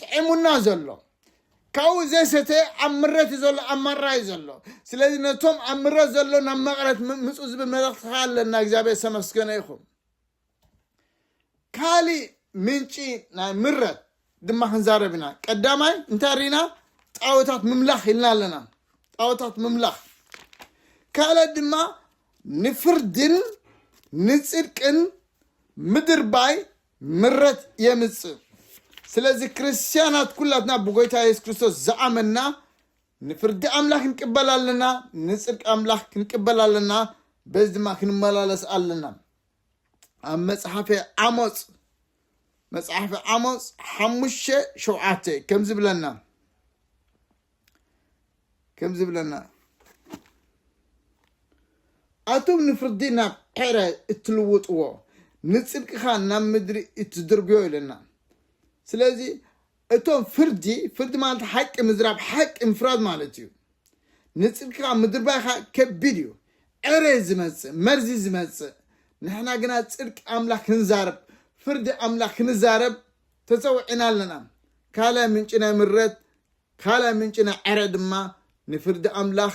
ጥዒሙና ዘሎ ካብኡ ዘይሰተ ኣብ ምረት እዩ ዘሎ ኣብ ማራ እዩ ዘሎ ስለዚ ነቶም ኣብ ምረት ዘሎ ናብ መቕረት ም- ምፁ ዝብል መልእኽትኻ ኣለና እግዚኣብሔር ዝተመስገነ ይኹን ካሊእ ምንጪ ናይ ምረት ድማ ክንዛረብ ኢና ቀዳማይ እንታይ ሪና ጣወታት ምምላኽ ኢልና ኣለና ጣወታት ምምላኽ ካልእ ድማ ንፍርድን ንፅድቅን ምድርባይ ምረት የምጽእ። ስለዚ ክርስትያናት ኩላትና ብጎይታ የሱስ ክርስቶስ ዝኣመንና ንፍርዲ ኣምላኽ ክንቅበል ኣለና፣ ንጽድቂ ኣምላኽ ክንቅበል ኣለና፣ በዚ ድማ ክንመላለስ ኣለና። ኣብ መጽሓፈ ዓሞጽ መጽሓፈ ዓሞጽ ሓሙሽተ ሸውዓተ ከምዚ ብለና ከም ዝብለና ኣቱም ንፍርዲ ናብ ዔረ እትልውጥዎ ንጽድቂ ኸኣ ናብ ምድሪ እትድርብዮ ኢለና ስለዚ እቶም ፍርዲ ፍርዲ ማለት ሓቂ ምዝራብ ሓቂ ምፍራድ ማለት እዩ ንጽድቂ ኸኣ ምድርባይ ኸኣ ከቢድ እዩ ዔረ ዝመጽእ መርዚ ዝመጽእ ንሕና ግና ጽድቂ ኣምላኽ ክንዛረብ ፍርዲ ኣምላኽ ክንዛረብ ተጸውዒና ኣለና ካልኣይ ምንጪ ናይ ምረት ካልኣይ ምንጪ ናይ ዕረ ድማ ንፍርዲ ኣምላኽ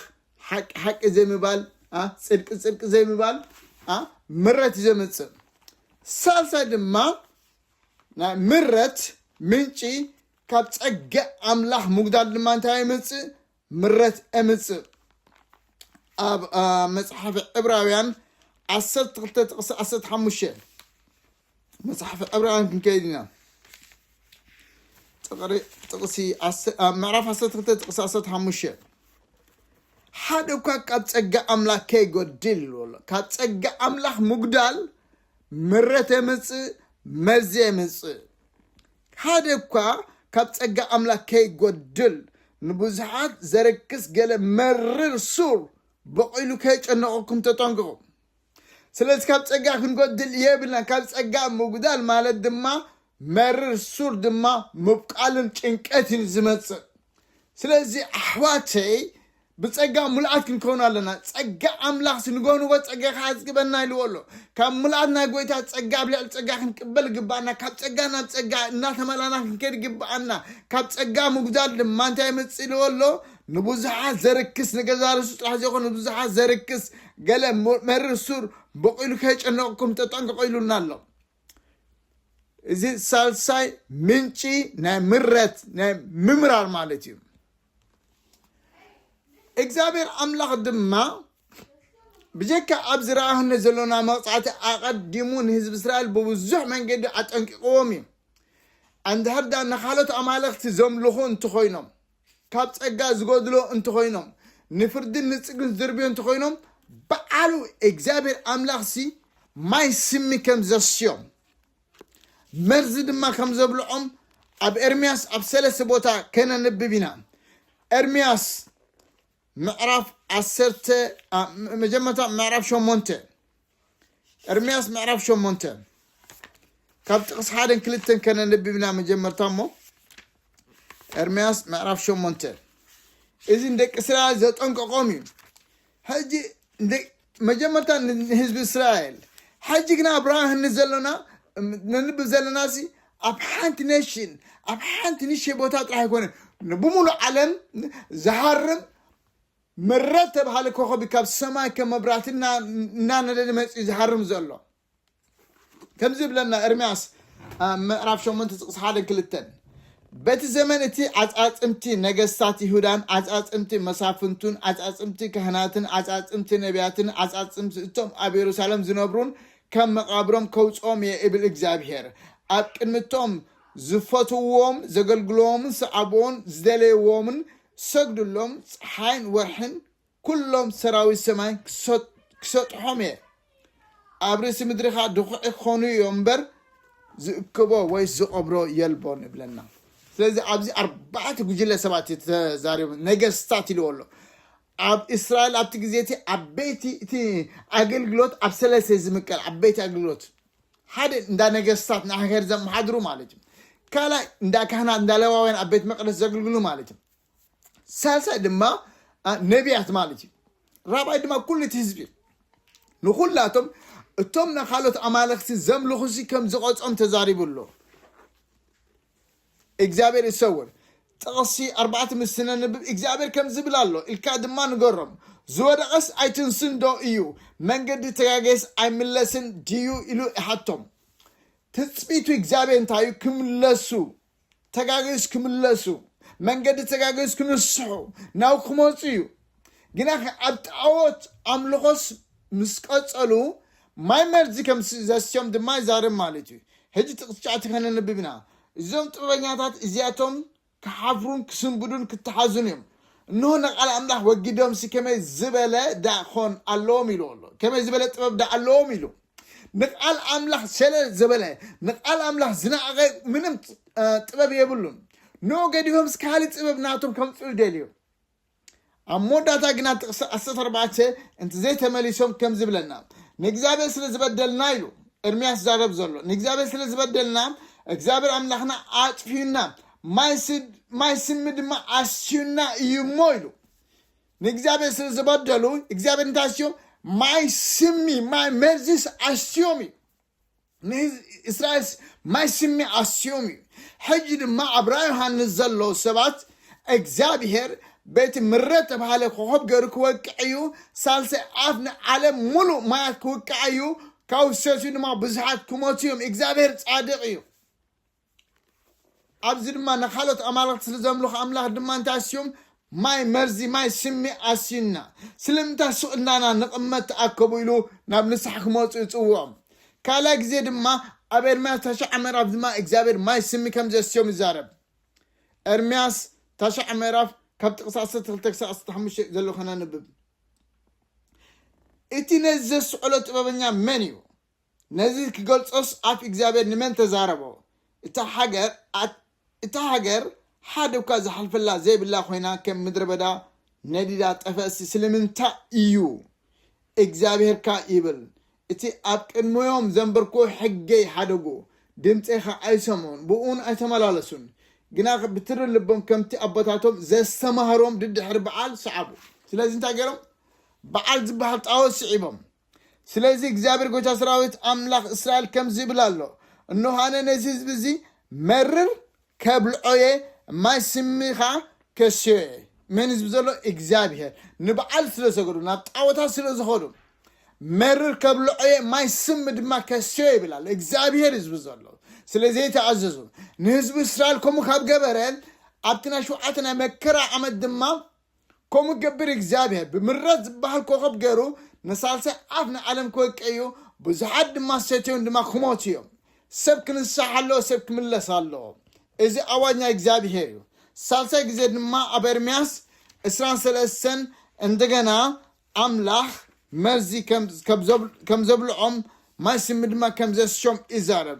ሓቂ ሓቂ ዘይምባል ኣ ጽድቂ ጽድቂ ዘይምባል ኣ ምረት እዩ ዘምጽእ ሳልሳይ ድማ ናይ ምረት ምንጪ ካብ ጸገ ኣምላኽ ምጉዳል ድማ እንታይ የምጽእ ምረት ኤምጽእ ኣብ መጽሓፊ ዕብራውያን ዓሰርተ ክልተ ጥቕሲ ዓሰርተ ሓሙሽተ መፅሓፍ ዕብራውያን ክንከይድ ኢና ጥቕሪ ጥቕሲ ዓሰ- ኣብ ምዕራፍ 12 ጥቕሲ 15 ሓደ እኳ ካብ ጸጋ ኣምላኽ ከይጎድል በሎ ካብ ጸጋ ኣምላኽ ምጉዳል ምረት የምፅእ መርዚ የምፅእ ሓደ እኳ ካብ ጸጋ ኣምላኽ ከይጎድል ንብዙሓት ዘርክስ ገለ መርር ሱር በቂሉ ከይጨነቐኩም ተጠንቅቑ ስለዚ ካብ ጸጋ ክንጎድል የብልናን። ካብ ጸጋ ምጉዳል ማለት ድማ መርር ሱር ድማ ምብቃልን ጭንቀትን ዝመጽእ። ስለዚ ኣሕዋተይ ብጸጋ ሙሉኣት ክንከውን ኣለና። ጸጋ ኣምላኽ ስንጎንጎ ጸጋ ክዓዝግበና ኢልዎ ኣሎ። ካብ ሙሉኣት ናይ ጎይታ ጸጋ ኣብ ልዕሊ ጸጋ ክንቅበል ግባኣና። ካብ ጸጋ ናብ ጸጋ እናተመላና ክንከድ ግባኣና። ካብ ጸጋ ምጉዳል ድማ እንታይ የመጽእ ኢልዎ ኣሎ? ንብዙሓት ዘርክስ ንገዛ ርእሱ ጥራሕ ዘይኮነ ንብዙሓት ዘርክስ ገለ መርር ሱር በቂሉ ከየጨነቕኩም ተጠንቀቑ ኢሉና ኣሎ እዚ ሳልሳይ ምንጪ ናይ ምረት ናይ ምምራር ማለት እዩ እግዚኣብሔር ኣምላኽ ድማ ብጀካ ኣብ ዝረኣህነ ዘሎና መቕፃዕቲ ኣቐዲሙ ንህዝቢ እስራኤል ብብዙሕ መንገዲ ኣጠንቂቕዎም እዩ እንድሕር ዳ ንካልኦት ኣማለኽቲ ዘምልኹ እንተኾይኖም ካብ ጸጋ ዝጎድሎ እንተኾይኖም ንፍርድን ንጽግን ዝድርብዮ እንተኾይኖም በዓሉ እግዚኣብሔር ኣምላኽሲ ማይ ስሚ ከም ዘስዮም መርዚ ድማ ከም ዘብልዖም ኣብ ኤርምያስ ኣብ ሰለስተ ቦታ ከነንብብ ኢና ኤርምያስ ምዕራፍ ዓሰርተ መጀመርታ ምዕራፍ ሸሞንተ እርምያስ ምዕራፍ ሸሞንተ ካብ ጥቕስ ሓደን ክልተን ከነንብብና መጀመርታ እሞ እርምያስ ምዕራፍ ሸሞንተ እዚ ንደቂ እስራኤል ዘጠንቀቖም እዩ ሕጂ መጀመርታ ንህዝቢ እስራኤል ሕጂ ግና ብርሃን ንዘሎና ነንብብ ዘለና ሲ ኣብ ሓንቲ ኔሽን ኣብ ሓንቲ ንሸ ቦታ ጥራሕ ኣይኮነ ብምሉእ ዓለም ዝሃርም መረብ ተብሃሊ ኮኾብ እዩ ካብ ሰማይ ከም መብራህቲ እናነደደ መፂኡ ዝሃርም ዘሎ ከምዚ ይብለና ኤርምያስ ምዕራፍ ሸሞንተ ጥቕሲ ሓደን ክልተን በቲ ዘመን እቲ ዓፃፅምቲ ነገስታት ይሁዳን ዓፃፅምቲ መሳፍንቱን ዓፃፅምቲ ካህናትን ዓፃፅምቲ ነቢያትን ዓፃፅምቲ እቶም ኣብ የሩሳሌም ዝነብሩን ከም መቓብሮም ከውፅኦም እየ እብል እግዚኣብሄር ኣብ ቅድሚቶም ዝፈትውዎም ዘገልግልዎምን ሰዓብዎን ዝደለይዎምን ክሰግድሎም ጸሓይን ወርሕን ኵሎም ሰራዊት ሰማይን ክሰጥሖም እየ። ኣብ ርእሲ ምድሪ ኸኣ ድዅዒ ክዀኑ እዮም እምበር፣ ዝእክቦ ወይ ዝቐብሮ የልቦን ይብለና። ስለዚ ኣብዚ ኣርባዕተ ጕጅለ ሰባት እዩ ተዛሪቡ፣ ነገስታት ኢልዎ ኣሎ። ኣብ እስራኤል ኣብቲ ግዜ እቲ ዓበይቲ እቲ ኣገልግሎት ኣብ ሰለስተ እዩ ዝምቀል፣ ዓበይቲ ኣገልግሎት ሓደ እንዳ ነገስታት ናይ ሃገር ዘመሓድሩ ማለት እዩ ካልኣይ እንዳ ካህናት እንዳ ለዋውያን ኣብ ቤት መቅደስ ዘገልግሉ ማለት እዩ ሳልሳይ ድማ ነቢያት ማለት እዩ ራብዓይ ድማ ኩሉ እቲ ህዝቢ ንኩላቶም እቶም ንካልኦት ኣማለኽቲ ዘምልኹ ሲ ከም ዝቐጾም ተዛሪቡ ኣሎ እግዚኣብሔር ይሰውር ጥቕሲ ኣርባዕተ ምስ ትነንብብ እግዚኣብሔር ከምዚ ይብል ኣሎ ኢልካ ድማ ንገሮም ዝወደቐስ ኣይትንስን ዶ እዩ መንገዲ ተጋጌስ ኣይምለስን ድዩ ኢሉ ይሓቶም ትጽቢቱ እግዚኣብሔር እንታይ እዩ ክምለሱ ተጋጌስ ክምለሱ መንገዲ ተጋጌስ ክንስሑ ናብ ክመፁ እዩ ግናኸ ኣብ ጣዖት ኣምልኾስ ምስ ቀጸሉ ማይ መርዚ ከም ዘስትዮም ድማ ይዛረብ ማለት እዩ። ሕጂ ጥቕሲ ትሽዓተ ከነንብብ ኢና። እዞም ጥበበኛታት እዚኣቶም ክሓፍሩን ክስንብዱን ክተሓዙን እዮም። እንሆ ንቃል ኣምላኽ ወጊዶምሲ ከመይ ዝበለ ደኣ ኾን ኣለዎም ኢሉ ኣሎ። ከመይ ዝበለ ጥበብ ደኣ ኣለዎም ኢሉ ንቃል ኣምላኽ ሰለ ዘበለ ንቃል ኣምላኽ ዝነኣቐ ምንም ጥበብ የብሉን። ንኡ ገዲፎምስ ካልእ ጥበብ ናቶም ከምጽኡ ይደልዩ። ኣብ መወዳእታ ግና ጥቕሲ ዓሰርተ ኣርባዕተ እንተዘይተመሊሶም ከም ዝብለና ንእግዚኣብሔር ስለ ዝበደልና ኢሉ ኤርምያስ ዛረብ ዘሎ ንእግዚኣብሔር ስለ ዝበደልና እግዚኣብሔር ኣምላኽና ኣጥፍዩና ማይ ስሚ ድማ ኣስዩና እዩ እሞ ኢሉ ንእግዚኣብሔር ስለ ዝበደሉ እግዚኣብሔር እንታይ ኣስዮም ማይ ስሚ ማይ መርዚስ ኣስዮም እዩ ንእስራኤልስ ማይ ስሚ ኣስዮም እዩ ሕጂ ድማ ኣብ ራእይ ዮሃንስ ዘሎ ሰባት እግዚኣብሄር በቲ ምረ ተባህለ ኮኸብ ገይሩ ክወቅዕ እዩ ሳልሳይ ኣፍ ንዓለም ሙሉእ ማያት ክውቅዓ እዩ ካብ ሰትዩ ድማ ብዙሓት ክሞቱ እዮም እግዚኣብሄር ጻድቕ እዩ ኣብዚ ድማ ንካልኦት ኣማልኽቲ ስለ ዘምልኹ ኣምላኽ ድማ እንታይ ኣስዮም ማይ መርዚ ማይ ስሚ ኣስዩና ስለምንታይ ሱቕ እንዳና ንቕመት ተኣከቡ ኢሉ ናብ ንስሓ ክመፁ ይፅውዖም ካልኣይ ግዜ ድማ ኣብ ኤርምያስ ታሽዓ ምዕራፍ ድማ እግዚኣብሔር ማይ ስሚ ከም ዘስዮም ይዛረብ ኤርምያስ ታሽዓ ምዕራፍ ካብ ጥቕሲ 12 ክሳብ 15 ዘሎ ከነንብብ እቲ ነዚ ዘስዕሎ ጥበበኛ መን እዩ ነዚ ኪገልጾስ ኣፍ እግዚኣብሄር ንመን ተዛረቦ? እታ ሃገር ኣት እታ ሃገር ሓደ እኳ ዝሓልፈላ ዘይብላ ኮይና ከም ምድረ በዳ ነዲዳ ጠፈእሲ ስለምንታይ እዩ? እግዚኣብሄር ከኣ ይብል እቲ ኣብ ቅድመዮም ዘንበርክዎ ሕገይ ሓደጉ ድምጸይ ከኣ ኣይሰምዑን ብእኡን ኣይተመላለሱን ግና ብትሪ ልቦም ከምቲ ኣቦታቶም ዘስተማህሮም ድድሕሪ በዓል ሰዓቡ። ስለዚ እንታይ ገይሮም? በዓል ዝበሃል ጣኦት ስዒቦም። ስለዚ እግዚኣብሔር ጎይታ ሰራዊት ኣምላኽ እስራኤል ከምዚ ይብል ኣሎ እንሆ ኣነ ነዚ ህዝቢ እዚ መርር ከብልዖ እየ ማይ ስሚ ከዓ ከስዮ እየ መን ህዝቢ ዘሎ እግዚኣብሔር ንበዓል ስለ ሰገዱ ናብ ጣዖታት ስለ ዝኸዱ መርር ከብልዖ እየ ማይ ስሚ ድማ ከስዮ ይብል ኣሎ እግዚኣብሔር ህዝቢ ዘሎ ስለ ዘይተኣዘዙ ንህዝቢ እስራኤል ከምኡ ካብ ገበረ ኣብቲ ናይ ሸውዓተ ናይ መከራ ዓመት ድማ ከምኡ ክገብር እግዚኣብሔር ብምረት ዝበሃል ኮኸብ ገይሩ ንሳልሳይ ኣፍ ንዓለም ክወቅዕ እዩ ብዙሓት ድማ ሰትዮም ድማ ክሞቱ እዮም ሰብ ክንሳሕ ኣለዎ ሰብ ክምለስ ኣለዎ እዚ ኣዋጅ ናይ እግዚኣብሔር እዩ ሳልሳይ ግዜ ድማ ኣብ ኤርምያስ እስራን ሰለስተን እንደገና ኣምላኽ መርዚ ከም ዘብልዖም ማይ ስሚ ድማ ከም ዘስሾም ይዛረብ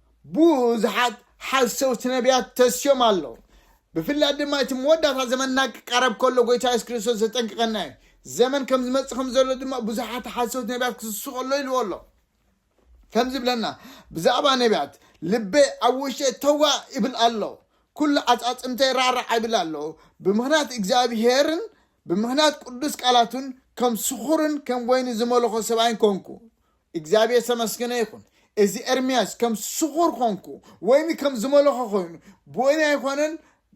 ብዙሓት ሓሰውቲ ነብያት ተስዮም ኣለዉ ብፍላይ ድማ እቲ መወዳእታ ዘመንና ክቃረብ ከሎ ጎይታ የሱስ ክርስቶስ ዘጠንቅቐና እዩ ዘመን ከም ዝመጽእ ከም ዘሎ ድማ ብዙሓት ሓሰውቲ ነብያት ክስሱ ከሎ ኢልዎ ኣሎ ከም ዝብለና ብዛዕባ ነብያት ልበይ ኣብ ውሽጠ ተዋ ይብል ኣሎ ኩሉ ኣጻጽምተይ ራዕራዕ ይብል ኣሎ ብምኽንያት እግዚኣብሄርን ብምኽንያት ቅዱስ ቃላቱን ከም ስኹርን ከም ወይኒ ዝመለኾ ሰብኣይን ኮንኩ እግዚኣብሔር ዝተመስገነ ይኹን እዚ ኤርምያስ ከም ስኹር ኾንኩ ወይኒ ከም ዝመለኾ ኮይኑ ብወይኒ ኣይኮነን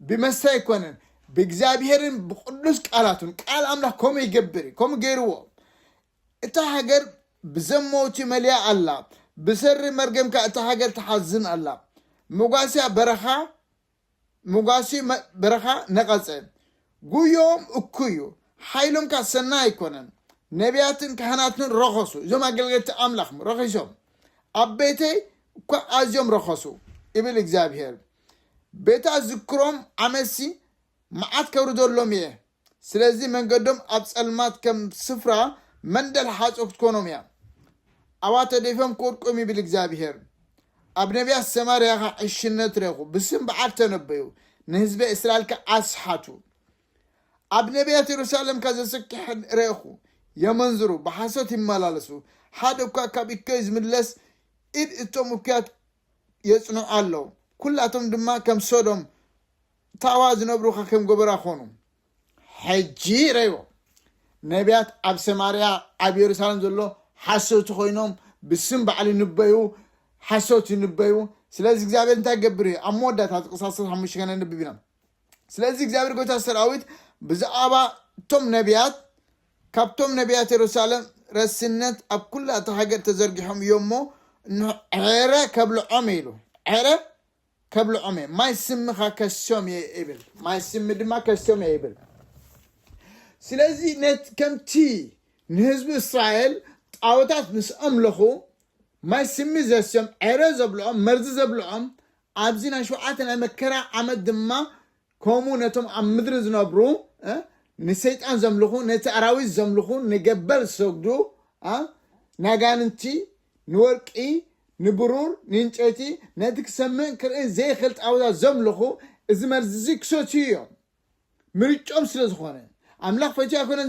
ብመስተ ኣይኮነን ብእግዚኣብሔርን ብቅዱስ ቃላቱን ቃል ኣምላኽ ከምኡ ይገብር እዩ ከምኡ ገይርዎ እታ ሃገር ብዘመውቲ መልያ ኣላ ብሰሪ መርገምካ እታ ሃገር ተሓዝን ኣላ መጓስያ በረኻ መጓሲ በረኻ ነቐጸ። ጉዮኦም እኩዩ፣ ሓይሎም ከኣ ሰናይ ኣይኮነን። ነብያትን ካህናትን ረኸሱ፣ እዞም ኣገልገልቲ ኣምላኽ ረኺሶም፣ ኣብ ቤተይ እኳ ኣዝዮም ረኸሱ ይብል እግዚኣብሄር። ቤታ ዝክሮም ዓመትሲ መዓት ከውርደሎም እየ። ስለዚ መንገዶም ኣብ ጸልማት ከም ስፍራ መንደል ሓጹር ክትኮኖም እያ። ኣብኣ ተደፊኦም ክወድቁ እዮም ይብል እግዚኣብሄር። ኣብ ነቢያት ሰማርያ ኸኣ ዕሽነት ረኹ፣ ብስም በዓል ተነበዩ፣ ንህዝበ እስራኤል ከኣ ኣስሓቱ። ኣብ ነቢያት የሩሳሌም ከኣ ዘስክሕ ረኹ፣ የመንዝሩ፣ ብሓሶት ይመላለሱ፣ ሓደ እኳ ካብ እከዩ ዝምለስ ኢድ እቶም እኩያት የጽንዑ ኣለዉ፣ ኵላቶም ድማ ከም ሶዶም ታዋ ዝነብሩ ከ ከም ጎበራ ኮኑ ሕጂ ረይዎ ነቢያት ኣብ ሰማርያ ኣብ የሩሳሌም ዘሎ ሓሰውቲ ኮይኖም ብስም ባዕሉ ይንበዩ ሓሰውቲ ይንበዩ ስለዚ እግዚኣብሔር እንታይ ገብር እዩ ኣብ መወዳእታ ዝቅሳሰ ሓሙሽተ ገና ንብብ ኢና ስለዚ እግዚኣብሔር ጎይታ ሰራዊት ብዛዕባ እቶም ነቢያት ካብቶም ነቢያት የሩሳሌም ረስነት ኣብ ኩላ እታ ሃገር ተዘርጊሖም እዮም እሞ ዕረ ከብልዖም ኢሉ ዕረ ከብልዖም እየ፣ ማይ ስሚ ኸኣ ከስዮም እየ ይብል፣ ማይ ስሚ ድማ ከስዮም እየ ይብል። ስለዚ ከምቲ ንህዝቢ እስራኤል ጣኦታት ምስ ኣምለኹ ማይ ስሚ ዘስዮም፣ ዕረ ዘብልዖም፣ መርዚ ዘብልዖም፣ ኣብዚ ናይ ሸውዓተ ናይ መከራ ዓመት ድማ ከምኡ ነቶም ኣብ ምድሪ ዝነብሩ እ ንሰይጣን ዘምልኹ ነቲ ኣራዊት ዘምልኹ ንገበል ዝሰግዱ እ ናጋንንቲ ንወርቂ ንብሩር ንእንጨይቲ ነቲ ክሰምዕን ክርእን ዘይኽእል ጣዖታት ዘምልኹ እዚ መርዚ እዚ ክሰትዩ እዮም ምርጮም ስለ ዝኾነ ኣምላኽ ፈትዩ ኣይኮነን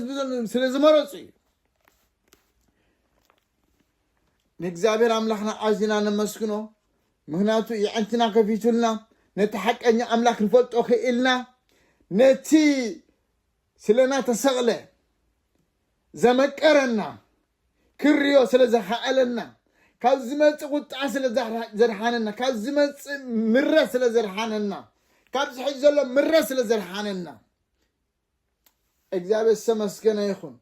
ስለ ዝመረፁ እዩ ንእግዚኣብሔር ኣምላኽና ኣዚና ነመስግኖ ምኽንያቱ የዕንትና ከፊቱልና ነቲ ሓቀኛ ኣምላክ ክንፈልጦ ክኢልና ነቲ ስለና ተሰቕለ ዘመቀረና ክርዮ ስለ ዘኸኣለና ካብ ዝመፅእ ቁጥዓ ስለ ዘድሓነና ካብ ዝመፅእ ምረት ስለ ዘድሓነና ካብ ዝሕጅ ዘሎ ምረት ስለ ዘድሓነና እግዚኣብሔር ዝተመስገነ ይኹን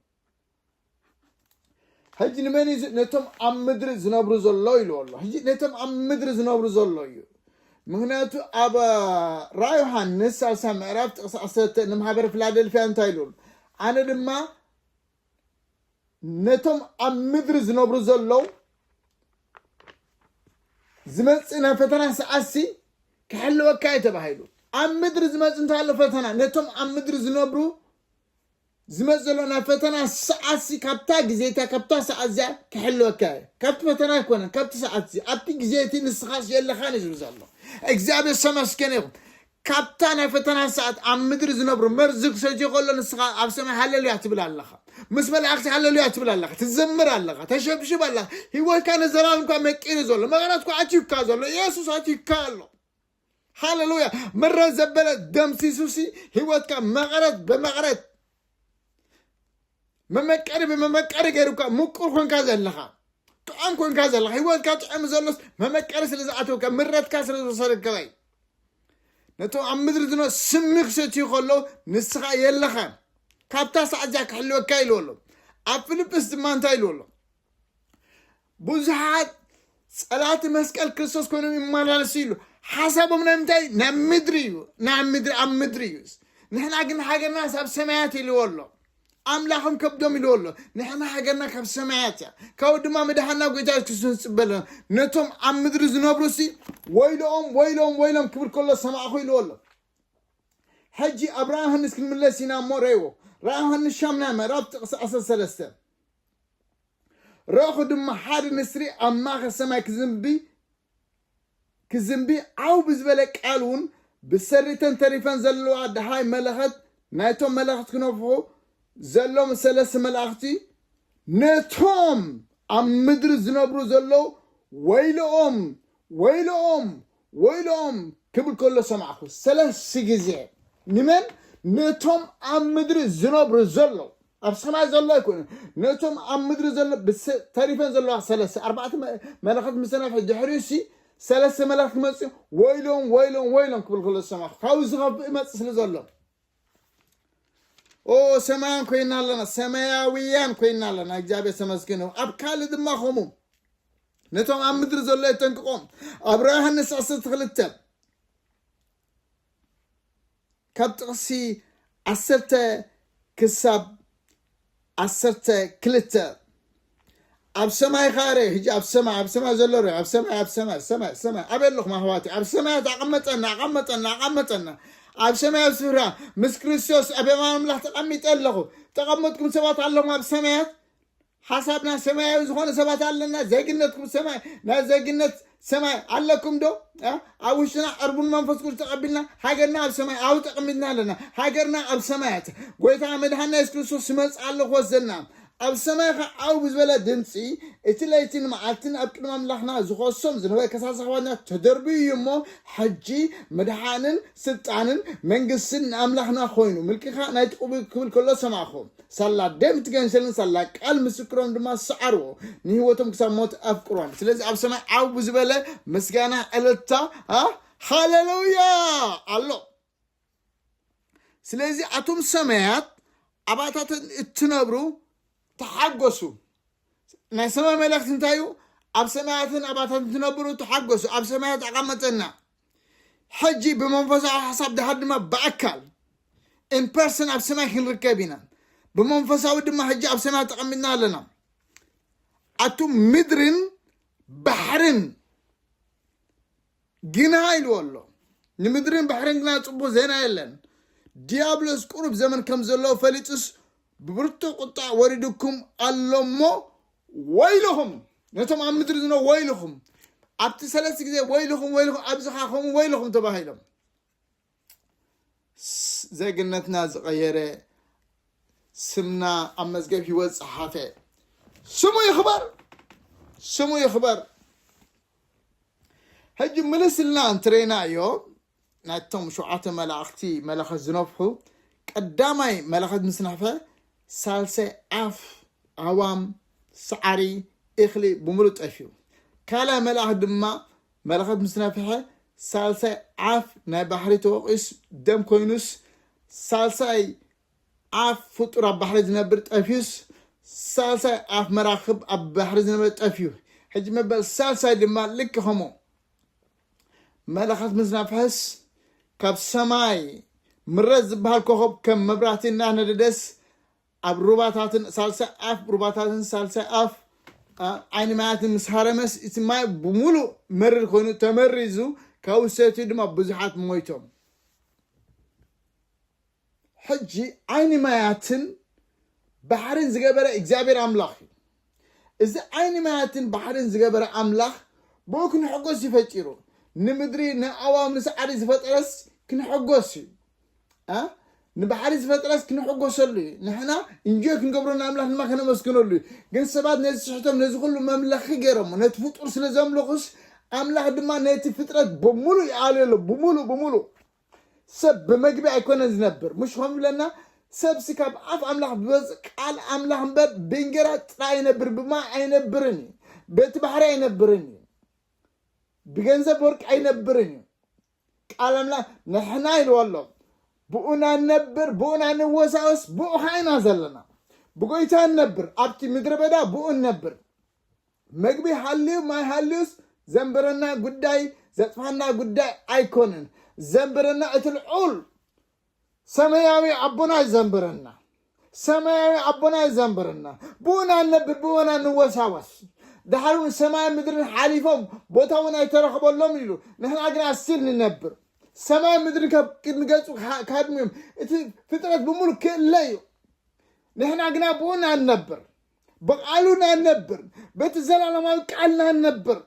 ሕጂ ንመን እዩ ነቶም ኣብ ምድሪ ዝነብሩ ዘሎ ኢሉ ኣሎ ሕጂ ነቶም ኣብ ምድሪ ዝነብሩ ዘሎ እዩ ምክንያቱ ኣብ ራ ዮሃንስ ሳልሳ ምዕራፍ ጥቕሲ ዓሰርተ ንማሕበረ ፊላደልፊያ እንታይ ኢሉ ኣነ ድማ ነቶም ኣብ ምድሪ ዝነብሩ ዘለዉ ዝመጽእ ናይ ፈተና ሰዓሲ ክሕልወካ እዩ ተባሂሉ ኣብ ምድሪ ዝመጽእ እንታይ ኣሎ ፈተና ነቶም ኣብ ምድሪ ዝነብሩ ዝመጽእ ዘሎ ናይ ፈተና ሰዓሲ ካብታ ግዜታ ካብታ ሰዓት እዚኣ ክሕልወካ እዩ ካብቲ ፈተና ኣይኮነን ካብቲ ሰዓት እዚ ኣብቲ ግዜ እቲ ንስኻስ የለኻን እዩ ዝብል ዘሎ እግዚኣብሔር ሰመስገን ይኹም ካብታ ናይ ፈተና ሰዓት ኣብ ምድሪ ዝነብሩ መርዚ ክሰትዮ ከሎ ንስኻ ኣብ ሰማይ ሃለሉያ ትብል ኣለኻ ምስ መላእኽቲ ሃለሉያ ትብል ኣለኻ ትዘምር ኣለኻ ተሸብሽብ ኣለኻ ህይወትካ ንዘላለምካ መቂሩ ዘሎ መቐረትኳ ኣትዩካ ዘሎ ኢየሱስ ኣትዩካ ኣሎ ሃለሉያ ምረ ዘበለ ደምሲሱሲ ህይወትካ መቐረት ብመቐረት መመቀሪ ብመመቀሪ ገይሩካ ምቁር ኮንካ ዘለኻ ጥዖም ኮንካ ዘለኻ ሂወትካ ጥዖም ዘሎስ መመቀሪ ስለ ዝኣተወካ ምረትካ ስለ ዝወሰደካ እዩ ነቶም ኣብ ምድሪ ዝነ ስሚ ክሰትዩ ከሎ ንስኻ የለኻን ካብታ ሰዓት እዚኣ ክሕልወካ ኢልዎ ኣሎ ኣብ ፊልጵስ ድማ እንታይ ኢልዎ ኣሎ ብዙሓት ጸላእቲ መስቀል ክርስቶስ ኮይኖም ይመላለሱ ኢሉ ሓሳቦም ናይ ምንታይ እዩ ናይ ምድሪ እዩ ናይ ምድሪ ኣብ ምድሪ እዩ ንሕና ግን ሃገርና ኣብ ሰማያት ኢልዎ ኣሎ ኣምላኽም ከብዶም ኢልዎ ኣሎ ንሕና ሃገርና ካብ ሰማያት እያ ካብኡ ድማ ምድሓና ጎይታ የሱስ ክርስቶስ ንፅበ ኣለና ነቶም ኣብ ምድሪ ዝነብሩ ሲ ወይሎኦም ወይሎም ወይሎም ክብል ከሎ ሰማዕኹ ኢልዎ ኣሎ ሕጂ ኣብ ራእይ ዮሃንስ ክንምለስ ኢና እሞ ረእዎ ራእይ ዮሃንስ ሻምናይ ምዕራፍ ጥቕሲ 13 ረእኹ ድማ ሓደ ንስሪ ኣብ ማእኸል ሰማይ ክዝንቢ ክዝንቢ ዓው ብዝበለ ቃል እውን ብሰሪተን ተሪፈን ዘለዋ ድሃይ መለኸት ናይቶም መለኸት ክነፍሑ ዘሎም ሰለስተ መላእኽቲ ነቶም ኣብ ምድሪ ዝነብሩ ዘለዉ ወይልኦም ወይልኦም ወይልኦም ክብል ከሎ ሰማዕኹ ሰለስተ ግዜ ንመን ነቶም ኣብ ምድሪ ዝነብሩ ዘለዉ ኣብ ሰማይ ዘሎ ኣይኮነን ነቶም ኣብ ምድሪ ዘሎ ተሪፈን ዘለዋ ሰለስተ ኣርባዕተ መላእኽት ምስ ተነፍሐ ድሕሪኡ ሲ ሰለስተ መላእኽት ክመፅኡ ወይሎም ወይሎም ወይሎም ክብል ከሎ ዝሰማዕ ካብኡ ዝኸፍእ ይመፅእ ስለ ዘሎ ኦ ሰማያን ኮይና ኣለና ሰማያውያን ኮይና ኣለና እግዚኣብሔር ተመስገን ይኹን ኣብ ካልእ ድማ ከምኡ ነቶም ኣብ ምድሪ ዘሎ የጠንቅቖም ኣብ ራእይ ዮሃንስ 12 ካብ ጥቕሲ ዓሰርተ ክሳብ ዓሰርተ ክልተ ኣብ ሰማይ ኸረ ህጂ ኣብ ሰማይ ኣብ ሰማይ ዘሎ ር ኣብ ሰማይ ኣብ ሰማይ ሰማይ ሰማይ ኣበይ ኣለኹም ኣሕዋት ኣብ ሰማያት ኣቐመጠና ኣቐመጠና ኣቐመጠና ኣብ ሰማያት ስፍራ ምስ ክርስቶስ ኣብ የማን ኣምላኽ ተቐሚጠ ኣለኹ ተቐመጥኩም ሰባት ኣለኹም ኣብ ሰማያት ሓሳብና ሰማያዊ ዝኾነ ሰባት ኣለና ዜግነትኩም ሰማይ ናይ ዜግነት ሰማይ ኣለኩም ዶ ኣብ ውሽጥና ዕርቡን መንፈስ ቅዱስ ተቐቢልና ሃገርና ኣብ ሰማይ ኣብ ተቐሚጥና ኣለና ሃገርና ኣብ ሰማያት ጎይታ መድሃና የሱስ ክርስቶስ ይመፅ ኣሎ ክወስደና ኣብ ሰማይ ኸ ዓው ብዝበለ ድምፂ እቲ ለይትን መዓልትን ኣብ ቅድሚ ኣምላኽና ዝኾሶም ዝነበረ ከሳሲ ኸባና ተደርብዩ እዩ እሞ ሕጂ ምድሓንን ስልጣንን መንግስትን ንኣምላኽና ኮይኑ ምልክኻ ናይቲ ቅቡል ክብል ከሎ ሰማዕኹም ሳላ ደም እቲ ገንሸልን ሳላ ቃል ምስክሮም ድማ ሰዓርዎ ንህይወቶም ክሳብ ሞት ኣፍቅሮም ስለዚ ኣብ ሰማይ ዓው ዝበለ ምስጋና ዕለታ ኣ፣ ሃሌሉያ ኣሎ ስለዚ ኣቶም ሰማያት ኣባታተን እትነብሩ ተሓጎሱ ናይ ሰማይ መልእኽቲ እንታይ እዩ ኣብ ሰማያትን ኣባታትን ትነብሩ ተሓጎሱ ኣብ ሰማያት ኣቐመጠና ሕጂ ብመንፈሳዊ ሓሳብ ድሓር ድማ ብኣካል ኢንፐርሰን ኣብ ሰማይ ክንርከብ ኢና ብመንፈሳዊ ድማ ሕጂ ኣብ ሰማይ ተቐሚጥና ኣለና ኣቱ ምድርን ባሕርን ግና ኢልዎ ኣሎ ንምድርን ባሕርን ግና ፅቡቅ ዜና የለን ዲያብሎስ ቁሩብ ዘመን ከም ዘለዎ ፈሊጡስ ብብርቱዕ ቁጣዕ ወሪዱኩም ኣሎ እሞ ወይልኹም ነቶም ኣብ ምድሪ ዝነ ወይልኹም ኣብቲ ሰለስተ ግዜ ወይልኹም ወይልኹም ኣብዝኻ ከምኡ ወይልኹም ተባሂሎም ዜግነትና ዝቐየረ ስምና ኣብ መዝገብ ህይወት ፀሓፈ ስሙ ይኽበር ስሙ ይኽበር ሕጂ ምልስልና እንትረና እዮ ናይቶም ሸውዓተ መላእኽቲ መለኸት ዝነፍሑ ቀዳማይ መለኸት ምስ ነፍሐ ሳልሳይ ኣፍ ኣዋም ሳዕሪ እኽሊ ብምሉእ ጠፊኡ ካልኣይ መልኣኽ ድማ መለኸት ምስ ነፍሐ ሳልሳይ ኣፍ ናይ ባሕሪ ተወቂስ ደም ኮይኑስ ሳልሳይ ኣፍ ፍጡር ኣብ ባሕሪ ዝነብር ጠፊዩስ ሳልሳይ ኣፍ መራክብ ኣብ ባሕሪ ዝነበረ ጠፍዩ ሕጂ መበል ሳልሳይ ድማ ልክ ከምኡ መለኸት ምስ ነፍሐስ ካብ ሰማይ ምረት ዝበሃል ኮኸብ ከም መብራህቲ እናነደደስ ኣብ ሩባታትን ሳልሳይ ኣፍ ሩባታትን ሳልሳይ ኣፍ ዓይኒ ማያትን ምስ ሃረመስ እቲ ማይ ብምሉእ መርር ኮይኑ ተመሪዙ ካብኡ ሰትዩ ድማ ብዙሓት ሞይቶም ሕጂ ዓይኒ ማያትን ባሕርን ዝገበረ እግዚኣብሔር ኣምላኽ እዩ። እዚ ዓይኒ ማያትን ባሕርን ዝገበረ ኣምላኽ ብኡ ክንሕጎስ እዩ ፈጢሩ። ንምድሪ ንኣዋም ንሰዓሪ ዝፈጠረስ ክንሕጎስ እዩ። ንባሕሪ ዝፈጥረስ ክንሕጎሰሉ እዩ ንሕና እንጆይ ክንገብሮ ንኣምላኽ ድማ ከነመስግነሉ እዩ ግን ሰባት ነዚ ስሕቶም ነዚ ኩሉ መምለኺ ገይሮሞ ነቲ ፍጡር ስለ ዘምልኹስ ኣምላኽ ድማ ነቲ ፍጥረት ብምሉእ ይኣልዮ ኣሎ ብምሉእ ብምሉእ ሰብ ብመግቢ ኣይኮነን ዝነብር ምሽ ከም ዝብለና ሰብሲ ካብ ኣፍ ኣምላኽ ብበፅ ቃል ኣምላኽ እምበር ብእንጀራ ጥራይ ይነብር ብማይ ኣይነብርን እዩ በቲ ባሕሪ ኣይነብርን እዩ ብገንዘብ ወርቂ ኣይነብርን እዩ ቃል ኣምላኽ ንሕና ኢልዎ ኣሎ ብኡና ነብር ብኡና ንወሳወስ ብኡ ከዓ ኢና ዘለና ብጎይታ ነብር ኣብቲ ምድረ በዳ ብኡ ነብር መግቢ ሃልዩ ማይ ሃልዩስ ዘንብረና ጉዳይ ዘጥፋና ጉዳይ ኣይኮነን ዘንብረና እቲ ልዑል ሰማያዊ ኣቦና እዩ ዘንብረና ሰማያዊ ኣቦና እዩ ዘንብረና ብኡና ንነብር ብኡና ንወሳወስ ድሓር እውን ሰማይ ምድርን ሓሊፎም ቦታ እውን ኣይተረኽበሎም ኢሉ ንሕና ግና ስል ንነብር ሰማይ ምድርን ካብ ቅድሚ ገጹ ካድሚዮም እቲ ፍጥረት ብምሉ ክእለ እዩ ንሕና ግና ብኡና ንነብር ብቃሉ ኢና ንነብር በቲ ዘላለማዊ ቃል ኢና ንነብር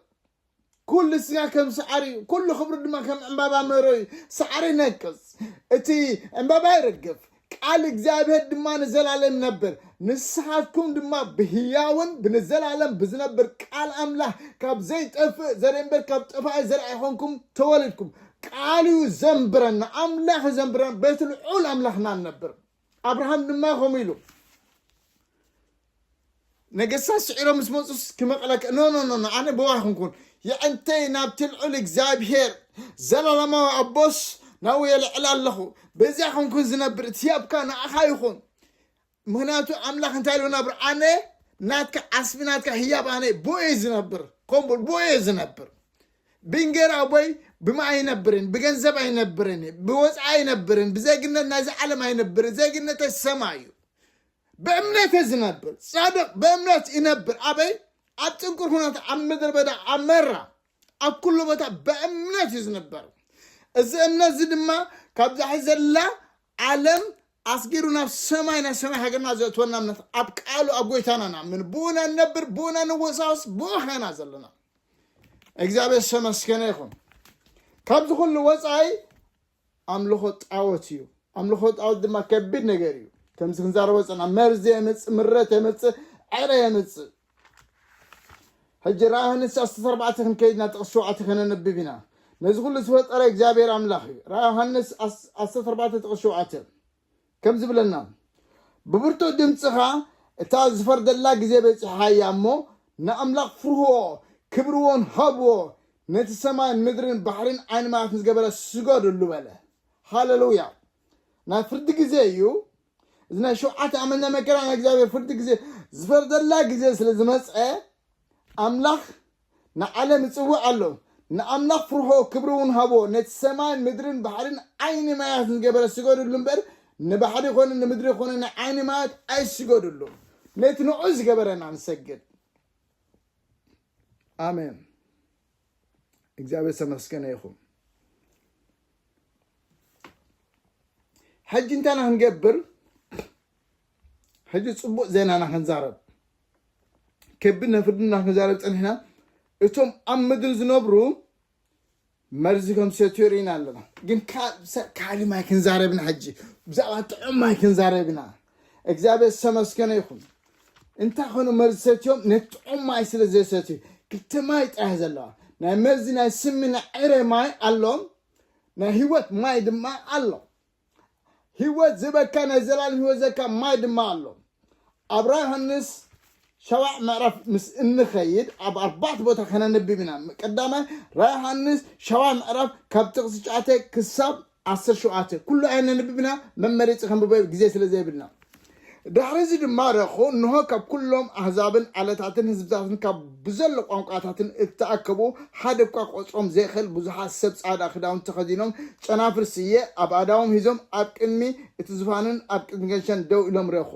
ኩሉ ስጋ ከም ሳዕሪ እዩ ኩሉ ክብሪ ድማ ከም ዕምባባ መሮ እዩ ሳዕሪ ነቅፅ እቲ ዕምባባ ይርግፍ ቃል እግዚኣብሔር ድማ ንዘላለም ይነብር ንስኻትኩም ድማ ብህያውን ብንዘላለም ብዝነብር ቃል ኣምላኽ ካብ ዘይጠፍእ ዘርኢ እምበር ካብ ጠፋኢ ዘርኢ ኣይኾንኩም ተወሊድኩም ቃሉ እዩ ዘንብረና ኣምላኽ እዩ ዘንብረና በቲ ልዑል ኣምላኽና ንነብር ኣብርሃም ድማ ከምኡ ኢሉ ነገስታት ስዒሮም ምስ መፁስ ክመቕለከ ኖኖኖ ኣነ ብዋ ክንኩን የዕንተይ ናብቲ ልዑል እግዚኣብሄር ዘላለማዊ ኣቦስ ናብኡ የልዕል ኣለኹ በዚያ ክንኩን ዝነብር እቲ ያብካ ንኣኻ ይኹን ምክንያቱ ኣምላኽ እንታይ ኢሉ ነብር ኣነ ናትካ ዓስቢ ናትካ ህያብ ኣነ ብኡ ዝነብር ከምኡ ብኡ ዝነብር ብእንጌራ ኣቦይ ብማይ ኣይነብርን ብገንዘብ ኣይነብርን እየ ብወፃኢ ኣይነብርን ብዜግነት ናይዚ ዓለም ኣይነብርን ዜግነተይ ሰማይ እዩ ብእምነት እየ ዝነብር ፃድቕ ብእምነት ይነብር ኣበይ ኣብ ፅንኩር ኩነት ኣብ ምድረ በዳ ኣብ መራ ኣብ ኩሉ ቦታ ብእምነት እዩ ዝነበር እዚ እምነት እዚ ድማ ካብዛ ሕዚ ዘላ ዓለም ኣስጊሩ ናብ ሰማይ ናይ ሰማይ ሃገርና ዘእትወና እምነት ኣብ ቃሉ ኣብ ጎይታና ንኣምን ብኡ ኢና ንነብር ብኡ ኢና ንወሳወስ ብኡ ኸና ዘለና እግዚኣብሔር ዝተመስገነ ይኹን ካብዚ ኩሉ ወፃኢ ኣምልኾ ጣወት እዩ ኣምልኾ ጣወት ድማ ከቢድ ነገር እዩ ከምዚ ክንዛረቦ ፀና መርዚ የምፅእ ምረት የምፅእ ዕረ የምፅእ ሕጂ ራእይ ዮሃንስ ዓሰርተ ኣርባዕተ ክንከይድ ኢና ጥቕሲ ሸውዓተ ከነንብብ ኢና ነዚ ኩሉ ዝፈጠረ እግዚኣብሔር ኣምላኽ እዩ ራእይ ዮሃንስ ዓሰርተ ኣርባዕተ ጥቕሲ ሸውዓተ ከም ዝብለና ብብርቱዕ ድምፂ ኸዓ እታ ዝፈርደላ ግዜ በፂሓ እያ እሞ ንኣምላኽ ፍርህዎ ክብርዎን ሃብዎ ነቲ ሰማይን ምድርን ባሕርን ዓይኒ ማያትን ዝገበረ ስገድሉ በለ ሃለሉያ ናይ ፍርዲ ግዜ እዩ እዚ ናይ ሸውዓተ ኣመት ናይ መከራ ናይ እግዚኣብሔር ፍርዲ ግዜ ዝፈርደላ ግዜ ስለ ዝመጸ ኣምላኽ ንዓለም ይጽውዕ ኣሎ ንኣምላኽ ፍርሆ ክብሪ እውን ሃቦ ነቲ ሰማይን ምድርን ባሕርን ዓይኒ ማያትን ዝገበረ ስገዱሉ እምበር ንባሕሪ ኮነ ንምድሪ ኮነ ንዓይኒ ማያት ኣይስገዱሉ ነቲ ንዑ ዝገበረና ንሰግድ ኣሜን እግዚኣብሔር ዝተመስገነ ይኹን ሕጂ እንታይ ኢና ክንገብር ሕጂ ፅቡቅ ዜና ኢና ክንዛረብ ከቢድ ነፍርዲ ኢና ክንዛረብ ፀኒሕና እቶም ኣብ ምድሪ ዝነብሩ መርዚ ከም ሰትዮ ርኢና ኣለና ግን ካልእ ማይ ክንዛረብ ኢና ሕጂ ብዛዕባ ጥዑም ማይ ክንዛረብ ኢና እግዚኣብሔር ዝተመስገነ ይኹን እንታይ ኮኑ መርዚ ሰትዮም ነቲ ጥዑም ማይ ስለ ዘይሰትዩ ክልተ ማይ ጥራይ ዘለዋ ናይ መርዚ ናይ ስሚ ናይ ዕረ ማይ ኣሎም ናይ ህይወት ማይ ድማ ኣሎ ህይወት ዝበካ ናይ ዘላለም ህይወት ዘካ ማይ ድማ ኣሎ ኣብ ራ ዮሃንስ ሸባዕ ምዕራፍ ምስ እንኸይድ ኣብ ኣርባዕተ ቦታ ከነንብብ ኢና ቀዳማይ ራ ዮሃንስ ሸባዕ ምዕራፍ ካብ ጥቕሲ ሸዓተ ክሳብ ዓሰርተ ሸውዓተ፣ ኩሉ ኣየነንብብና፣ መመሪጺ ከንብቦ ግዜ ስለ ዘይብልና። ድሕሪዚ ድማ ረኹ፣ እንሆ ካብ ኩሎም ኣህዛብን ዓለታትን ህዝብታትን ካብ ብዘሎ ቋንቋታትን እተኣከቡ፣ ሓደ እኳ ክቆጽሮም ዘይክእል ብዙሓት ሰብ ጻዕዳ ክዳውንቲ ተኸዲኖም፣ ጨናፍር ስየ ኣብ ኣእዳዎም ሒዞም ኣብ ቅድሚ እቲ ዙፋንን ኣብ ቅድሚ ገንሸን ደው ኢሎም ረኹ።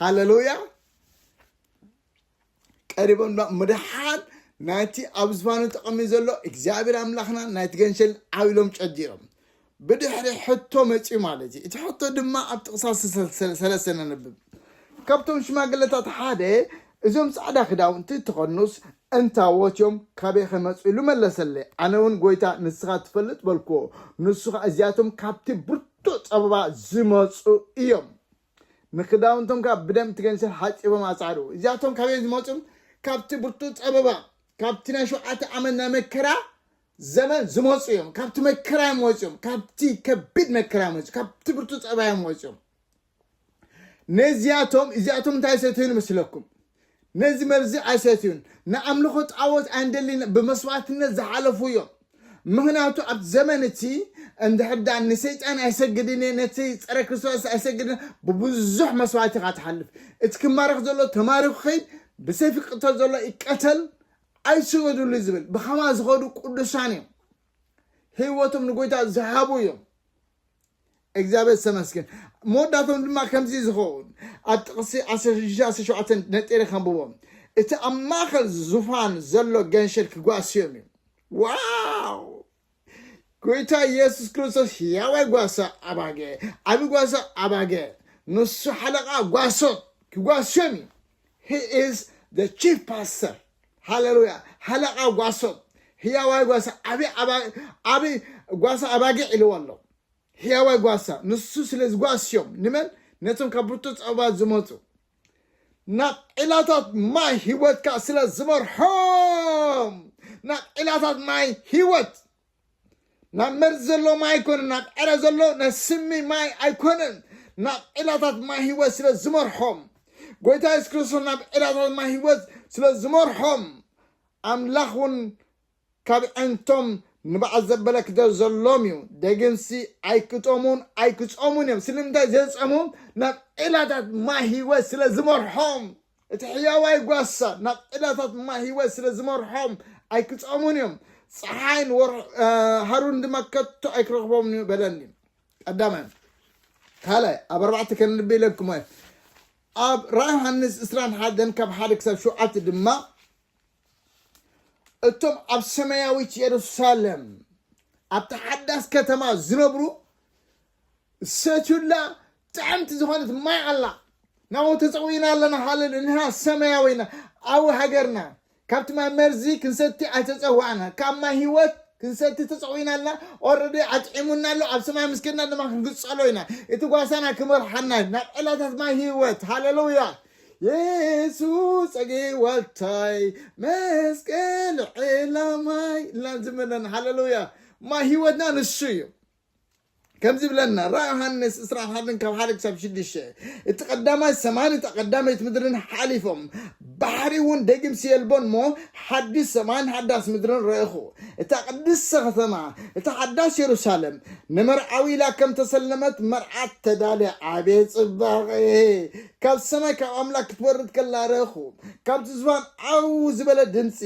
ሃለሉያ! ቀሪቦም እሞ ደሓን ናይቲ ኣብ ዝፋኑ ተቐሚጡ ዘሎ እግዚኣብሔር ኣምላኽና ናይቲ ገንሸል ዓው ኢሎም ጨዲሮም ብድሕሪ ሕቶ መፅኡ ማለት እዩ እቲ ሕቶ ድማ ኣብ ጥቕሳ ሰለስተ ነንብብ ካብቶም ሽማግለታት ሓደ እዞም ፃዕዳ ክዳውንቲ ተኸድኑስ እንታዎት እዮም ካበይ ከመፁ ኢሉ መለሰለ ኣነ እውን ጎይታ ንስኻ ትፈልጥ በልክዎ ንሱ ከዓ እዚኣቶም ካብቲ ብርቱዕ ፀበባ ዝመፁ እዮም ንክዳውንቶም ከኣ ብደም እቲ ገንሸል ሓጺቦም ኣጻዕድኡ። እዚኣቶም ካበይ እዮም ዝመጹ? ካብቲ ብርቱዕ ጸበባ፣ ካብቲ ናይ ሸውዓተ ዓመት ናይ መከራ ዘመን ዝመጹ እዮም። ካብቲ መከራ እዮም ወጺኦም። ካብቲ ከቢድ መከራ እዮም ወጺኦም። ካብቲ ብርቱዕ ጸበባ እዮም ወጺኦም። ነዚኣቶም እዚኣቶም እንታይ ሰተዩ ንመስለኩም? ነዚ መርዚ ኣይሰትዩን፣ ንኣምልኾ ጣዖት ኣይንደልይን ብመስዋእትነት ዝሓለፉ እዮም። ምኽንያቱ ኣብቲ ዘመን እቲ እንድሕር ደኣ ንሰይጣን ኣይሰግድን እየ፣ ነቲ ጸረ ክርስቶስ ኣይሰግድን እየ፣ ብብዙሕ መስዋእቲ ኢኻ ትሓልፍ። እቲ ክማረኽ ዘሎ ተማሪኹ ይኸይድ፣ ብሰይፊ ክቕተል ዘሎ ይቀተል፣ ኣይስገዱሉይ ዝብል ብኸማ ዝኸዱ ቅዱሳን እዮም። ህይወቶም ንጎይታ ዝሃቡ እዮም። እግዚኣብሔር ዝተመስገን መወዳቶም ድማ ከምዚ ዝኸውን ኣብ ጥቕሲ 16-17 ነጢረ ከንብቦ እቲ ኣብ ማእኸል ዙፋን ዘሎ ገንሸል ክጓስዮም እዩ ዋው ጎይታ ኢየሱስ ክርስቶስ ሕያዋይ ጓሳ ኣባገ ዓብ ጓሳ ኣባገ ንሱ ሓለቓ ጓሶት ክጓስዮም እዩ He is the chief pastor. ሃለሉያ ሃለቃ ጓሶም ህያዋይ ጓሳ ዓብይ ዓባ- ዓብይ ጓሳ ኣባጊዕ ኢልዎ ኣሎ ህያዋይ ጓሳ ንሱ ስለ ዝጓስዮም ንመን ነቶም ካብ ብርቱ ፀበባት ዝመፁ ናብ ዒላታት ማይ ህይወትካ ስለ ዝመርሖም ናብ ዒላታት ማይ ህይወት ናብ መርዚ ዘሎ ማይ ኣይኮነን ናብ ዕረ ዘሎ ናብ ስሚ ማይ ኣይኮነን ናብ ዒላታት ማይ ህይወት ስለ ዝመርሖም ጎይታ የሱስ ክርስቶስ ናብ ዒላታት ማይ ህይወት ስለ ዝመርሖም ኣምላኽ እውን ካብ ዕንቶም ንባዕ ዘበለ ክደ ዘሎም እዩ ደግንሲ ኣይክጠሙን ኣይክፀሙን እዮም ስለምንታይ ዘይፀሙ ናብ ዒላታት ማይ ህይወት ስለ ዝመርሖም እቲ ሕያዋይ ጓሳ ናብ ዒላታት ማይ ህይወት ስለ ዝመርሖም ኣይክጸሙን እዮም፣ ጸሓይን ሃሩርን ድማ ከቶ ኣይክረኽቦምን እዩ በለኒ። ቀዳማይ ካልኣይ ኣብ ኣርባዕተ ከንልቢ ኢለኩም እየ ኣብ ራ ዮሃንስ እስራን ሓደን ካብ ሓደ ክሳብ ሸውዓተ ድማ እቶም ኣብ ሰማያዊት የሩሳሌም ኣብቲ ሓዳስ ከተማ ዝነብሩ ሰትዩላ ጥዕምቲ ዝኾነት ማይ ኣላ ናብኡ ተጸዊና ኣለና ሃለሉ ንሕና ሰማያዊ ኢና ኣብ ሃገርና ካብቲ ማይ መርዚ ክንሰቲ ኣይተጸዋዕና ካብ ማይ ህይወት ክንሰቲ ተጸዊና ኣለና ኦረዲ ኣጥዒሙና ኣሎ ኣብ ሰማይ ምስ ከድና ድማ ክንግጸሎ ኢና እቲ ጓሳና ክመርሓና እዩ ናብ ዕላታት ማይ ህይወት ሃለሉያ የሱስ ጸጌዋታይ መስቀል ዕላማይ ኢልና ንዝምር ኣለና ሃለሉያ ማይ ህይወትና ንሱ እዩ ከምዚ ብለና ራ ዮሃንስ ዕስራን ሓደን ካብ ሓደ ክሳብ ሽዱሽተ እቲ ቀዳማይ ሰማይን እታ ቀዳመይት ምድርን ሓሊፎም ባሕሪ እውን ደጊምሲ የልቦን እሞ ሓዲስ ሰማይን ሓዳስ ምድርን ረእኹ እታ ቅድስተ ከተማ እታ ሓዳስ የሩሳሌም ንመርዓዊ ኢላ ከም ተሰለመት መርዓት ተዳልያ ዓብየ ጽባቐ ካብ ሰማይ ካብ ኣምላኽ ክትወርድ ከላ ረኹ ካብቲ ዝባን ዓው ዝበለ ድምፂ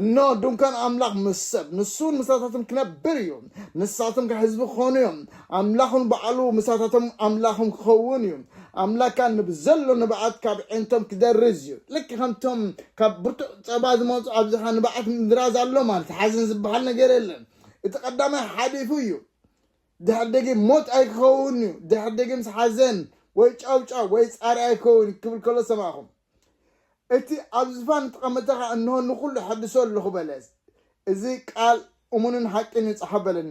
እኖ ድንኳን ኣምላኽ ምስ ሰብ ንሱን ምሳታትን ክነብር እዩ ንሳቶም ከ ህዝቢ ክኾኑ እዮም ኣምላኽ ንባዕሉ ምሳታቶም ኣምላኽም ክኸውን እዩ ኣምላክ ከ ንብዘሎ ንብዓት ካብ ዒንቶም ክደርዝ እዩ ልክ ከምቶም ካብ ብርቱዕ ፀባ ዝመፁ ኣብዚኻ ንብዓት ምድራዝ ኣሎ ማለት ሓዘን ዝበሃል ነገር የለን እቲ ቀዳማይ ሓሊፉ እዩ ድሕር ደጊም ሞት ኣይክኸውን እዩ ድሕር ደጊምስ ሓዘን ወይ ጫውጫው ወይ ፃሪ ኣይከውን ክብል ከሎ ሰማእኹም እቲ ኣብ ዝፋን እተቐመጠ ኸኣ እንሆ ንዅሉ እሐድሶ ኣሎኹ በለ። እዚ ቃል እሙንን ሓቂን እዩ ጸሓፍ በለኒ።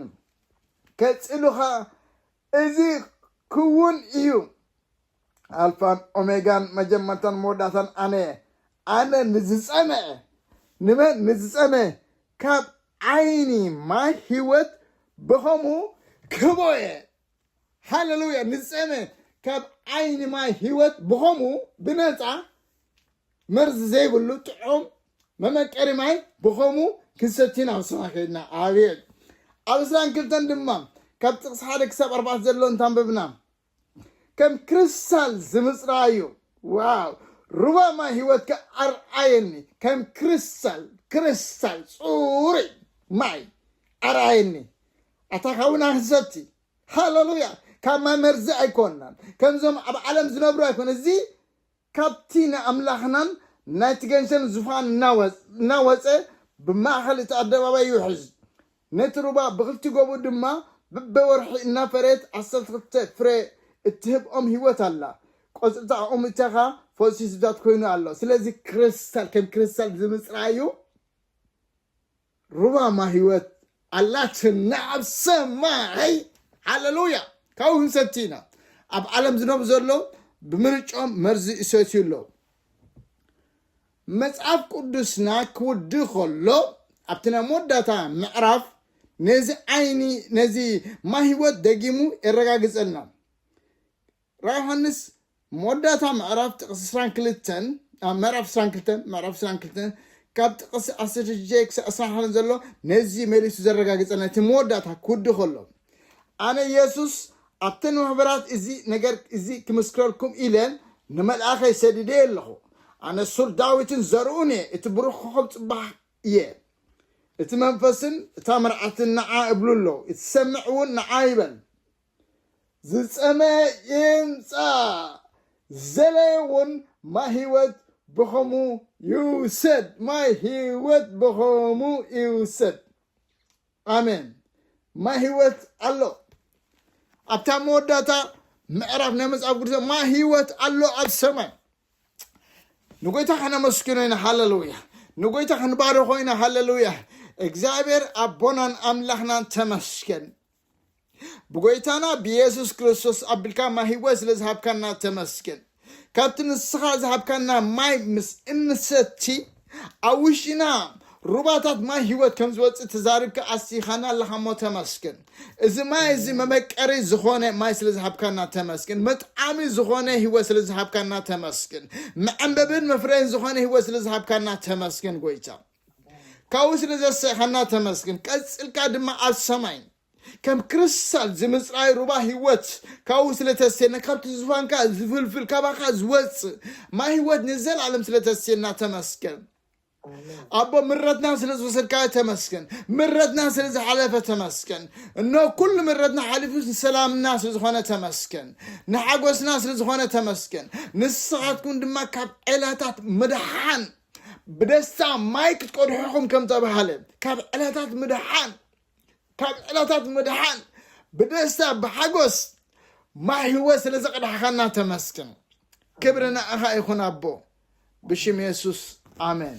ከጺሉ ኸኣ እዚ ክዉን እዩ፣ ኣልፋን ኦሜጋን መጀመርታን መወዳእታን ኣነ እየ፣ ኣነ ንዝጸመኤ፣ ንመን ንዝጸመኤ ካብ ዓይኒ ማይ ህይወት ብኸምኡ ክህቦ እየ። ሃለሉያ ንፀመ ካብ ዓይኒ ማይ ህይወት ብኸምኡ ብነፃ መርዚ ዘይብሉ ጥዑም መመቀሪ ማይ ብኸምኡ ክንሰቲን ኣብ ስራ ከይድና ኣብየት ኣብ እስራን ክልተን ድማ ካብ ጥቕሲ ሓደ ክሳብ ኣርባዕተ ዘሎ እንታንበብና ከም ክሪስታል ዝምፅራዩ ዋው ሩባ ማይ ህይወትካ ኣርኣየኒ ከም ክሪስታል ክሪስታል ፅሩይ ማይ ኣርኣየኒ ኣታ ኻብና ክንሰቲ ሃለሉያ ካብ ማይ መርዚ ኣይኮናን ከምዞም ኣብ ዓለም ዝነብሩ ኣይኮነ እዚ ካብቲ ንኣምላኽናን ናይቲ ገንሸል ዙፋን እናወፀ ብማእኸል እቲ ኣደባባይ ይውሕዝ ነቲ ሩባ ብክልቲ ጎቡ ድማ በበወርሒ እናፈረየት ዓሰርተ ክልተ ፍረ እትህብ ኦም ህይወት ኣላ ቆፅልታ ኦም እተኻ ፈውሲ ህዝብታት ኮይኑ ኣሎ ስለዚ ክሪስታል ከም ክሪስታል ዝምፅራዩ ሩባ ማይ ህይወት ኣላትና ኣብ ሰማይ ሃለሉያ ካብኡ ክንሰቲ ኢና ኣብ ዓለም ዝነብሩ ዘለዉ ብምርጮም መርዚ ይሰትዩ ኣለዉ መጽሓፍ ቅዱስና ክውዲ ከሎ ኣብቲ ናይ መወዳእታ ምዕራፍ ነዚ ዓይኒ ነዚ ማይ ህይወት ደጊሙ የረጋግጸልና ራእይ ዮሃንስ መወዳእታ ምዕራፍ ጥቕሲ ዕስራን ክልተን ኣብ ምዕራፍ ዕስራን ክልተን ምዕራፍ ዕስራን ክልተን ካብ ጥቕሲ ዓሰርተ ሽዱሽተ ክሳብ ዕስራን ሓደን ዘሎ ነዚ መሊሱ ዘረጋግጸልና እቲ መወዳእታ ክውዲ ከሎ ኣነ የሱስ ኣብተን ማሕበራት እዚ ነገር እዚ ክምስክረልኩም ኢለ ንመልኣኸይ ሰዲደ እየ ኣለኹ ኣነ ሱር ዳዊትን ዘርኡን እየ እቲ ብሩኽ ኮኸብ ጽባሕ እየ እቲ መንፈስን እታ መርዓትን ንዓ እብሉ ኣለዉ እቲ ሰምዕ እውን ንዓ ይበል ዝጸመየ ይምጻእ ዝደለየ ውን ማይ ህይወት ብኸሙ ይውሰድ ማይ ህይወት ብኸሙ ይውሰድ ኣሜን ማይ ህይወት ኣሎ ኣብታ መወዳእታ ምዕራፍ ናይ መጽሓፍ ቅዱስ ማይ ህይወት ኣሎ ኣብ ሰማይ ንጎይታ ከነመስግኖ ኢና ሃለሉያ ንጎይታ ክንባርኾ ኢና ሃለሉያ እግዚኣብሔር ኣቦናን ኣምላኽናን ተመስገን ብጎይታና ብየሱስ ክርስቶስ ኣቢልካ ማይ ህይወት ስለ ዝሃብካና ተመስገን ካብቲ ንስኻ ዝሃብካና ማይ ምስ እንሰቲ ኣብ ውሽጢና ሩባታት ማይ ህይወት ከም ዝወፅእ ተዛሪብካ ኣስቲኻና ኣለኻ እሞ ተመስገን እዚ ማይ እዚ መመቀሪ ዝኾነ ማይ ስለ ዝሃብካና ተመስገን መጥዓሚ ዝኾነ ህይወት ስለ ዝሃብካና ተመስገን መዐንበብን መፍረይን ዝኾነ ህይወት ስለ ዝሃብካና ተመስገን ጎይታ ካብኡ ስለ ዘስሕኻና ተመስግን። ቀጽልካ ድማ ኣብ ሰማይ ከም ክሪስታል ዝምጽራይ ሩባ ህይወት ካብኡ ስለ ተስየና ካብቲ ዝፋንካ ዝፍልፍል ካባኻ ዝወጽእ ማይ ህይወት ንዘለኣለም ስለ ተስየና ተመስገን። ኣቦ ምረትና ስለ ዝወሰድካዮ ተመስገን። ምረትና ስለ ዝሓለፈ ተመስገን። እኖ ኩሉ ምረትና ሓሊፉ ሰላምና ስለ ዝኾነ ተመስገን። ንሓጎስና ስለ ዝኾነ ተመስገን። ንስኻትኩም ድማ ካብ ዔላታት ምድሓን ብደስታ ማይ ክትቀድሑ ኢኹም ከም ተባህለ ካብ ዕለታት ምድሓን ካብ ዕለታት ምድሓን ብደስታ ብሓጎስ ማይ ህይወት ስለ ዘቕዳሕኻና ተመስግን ክብሪ ንኣኻ ይኹን ኣቦ ብሽም የሱስ ኣሜን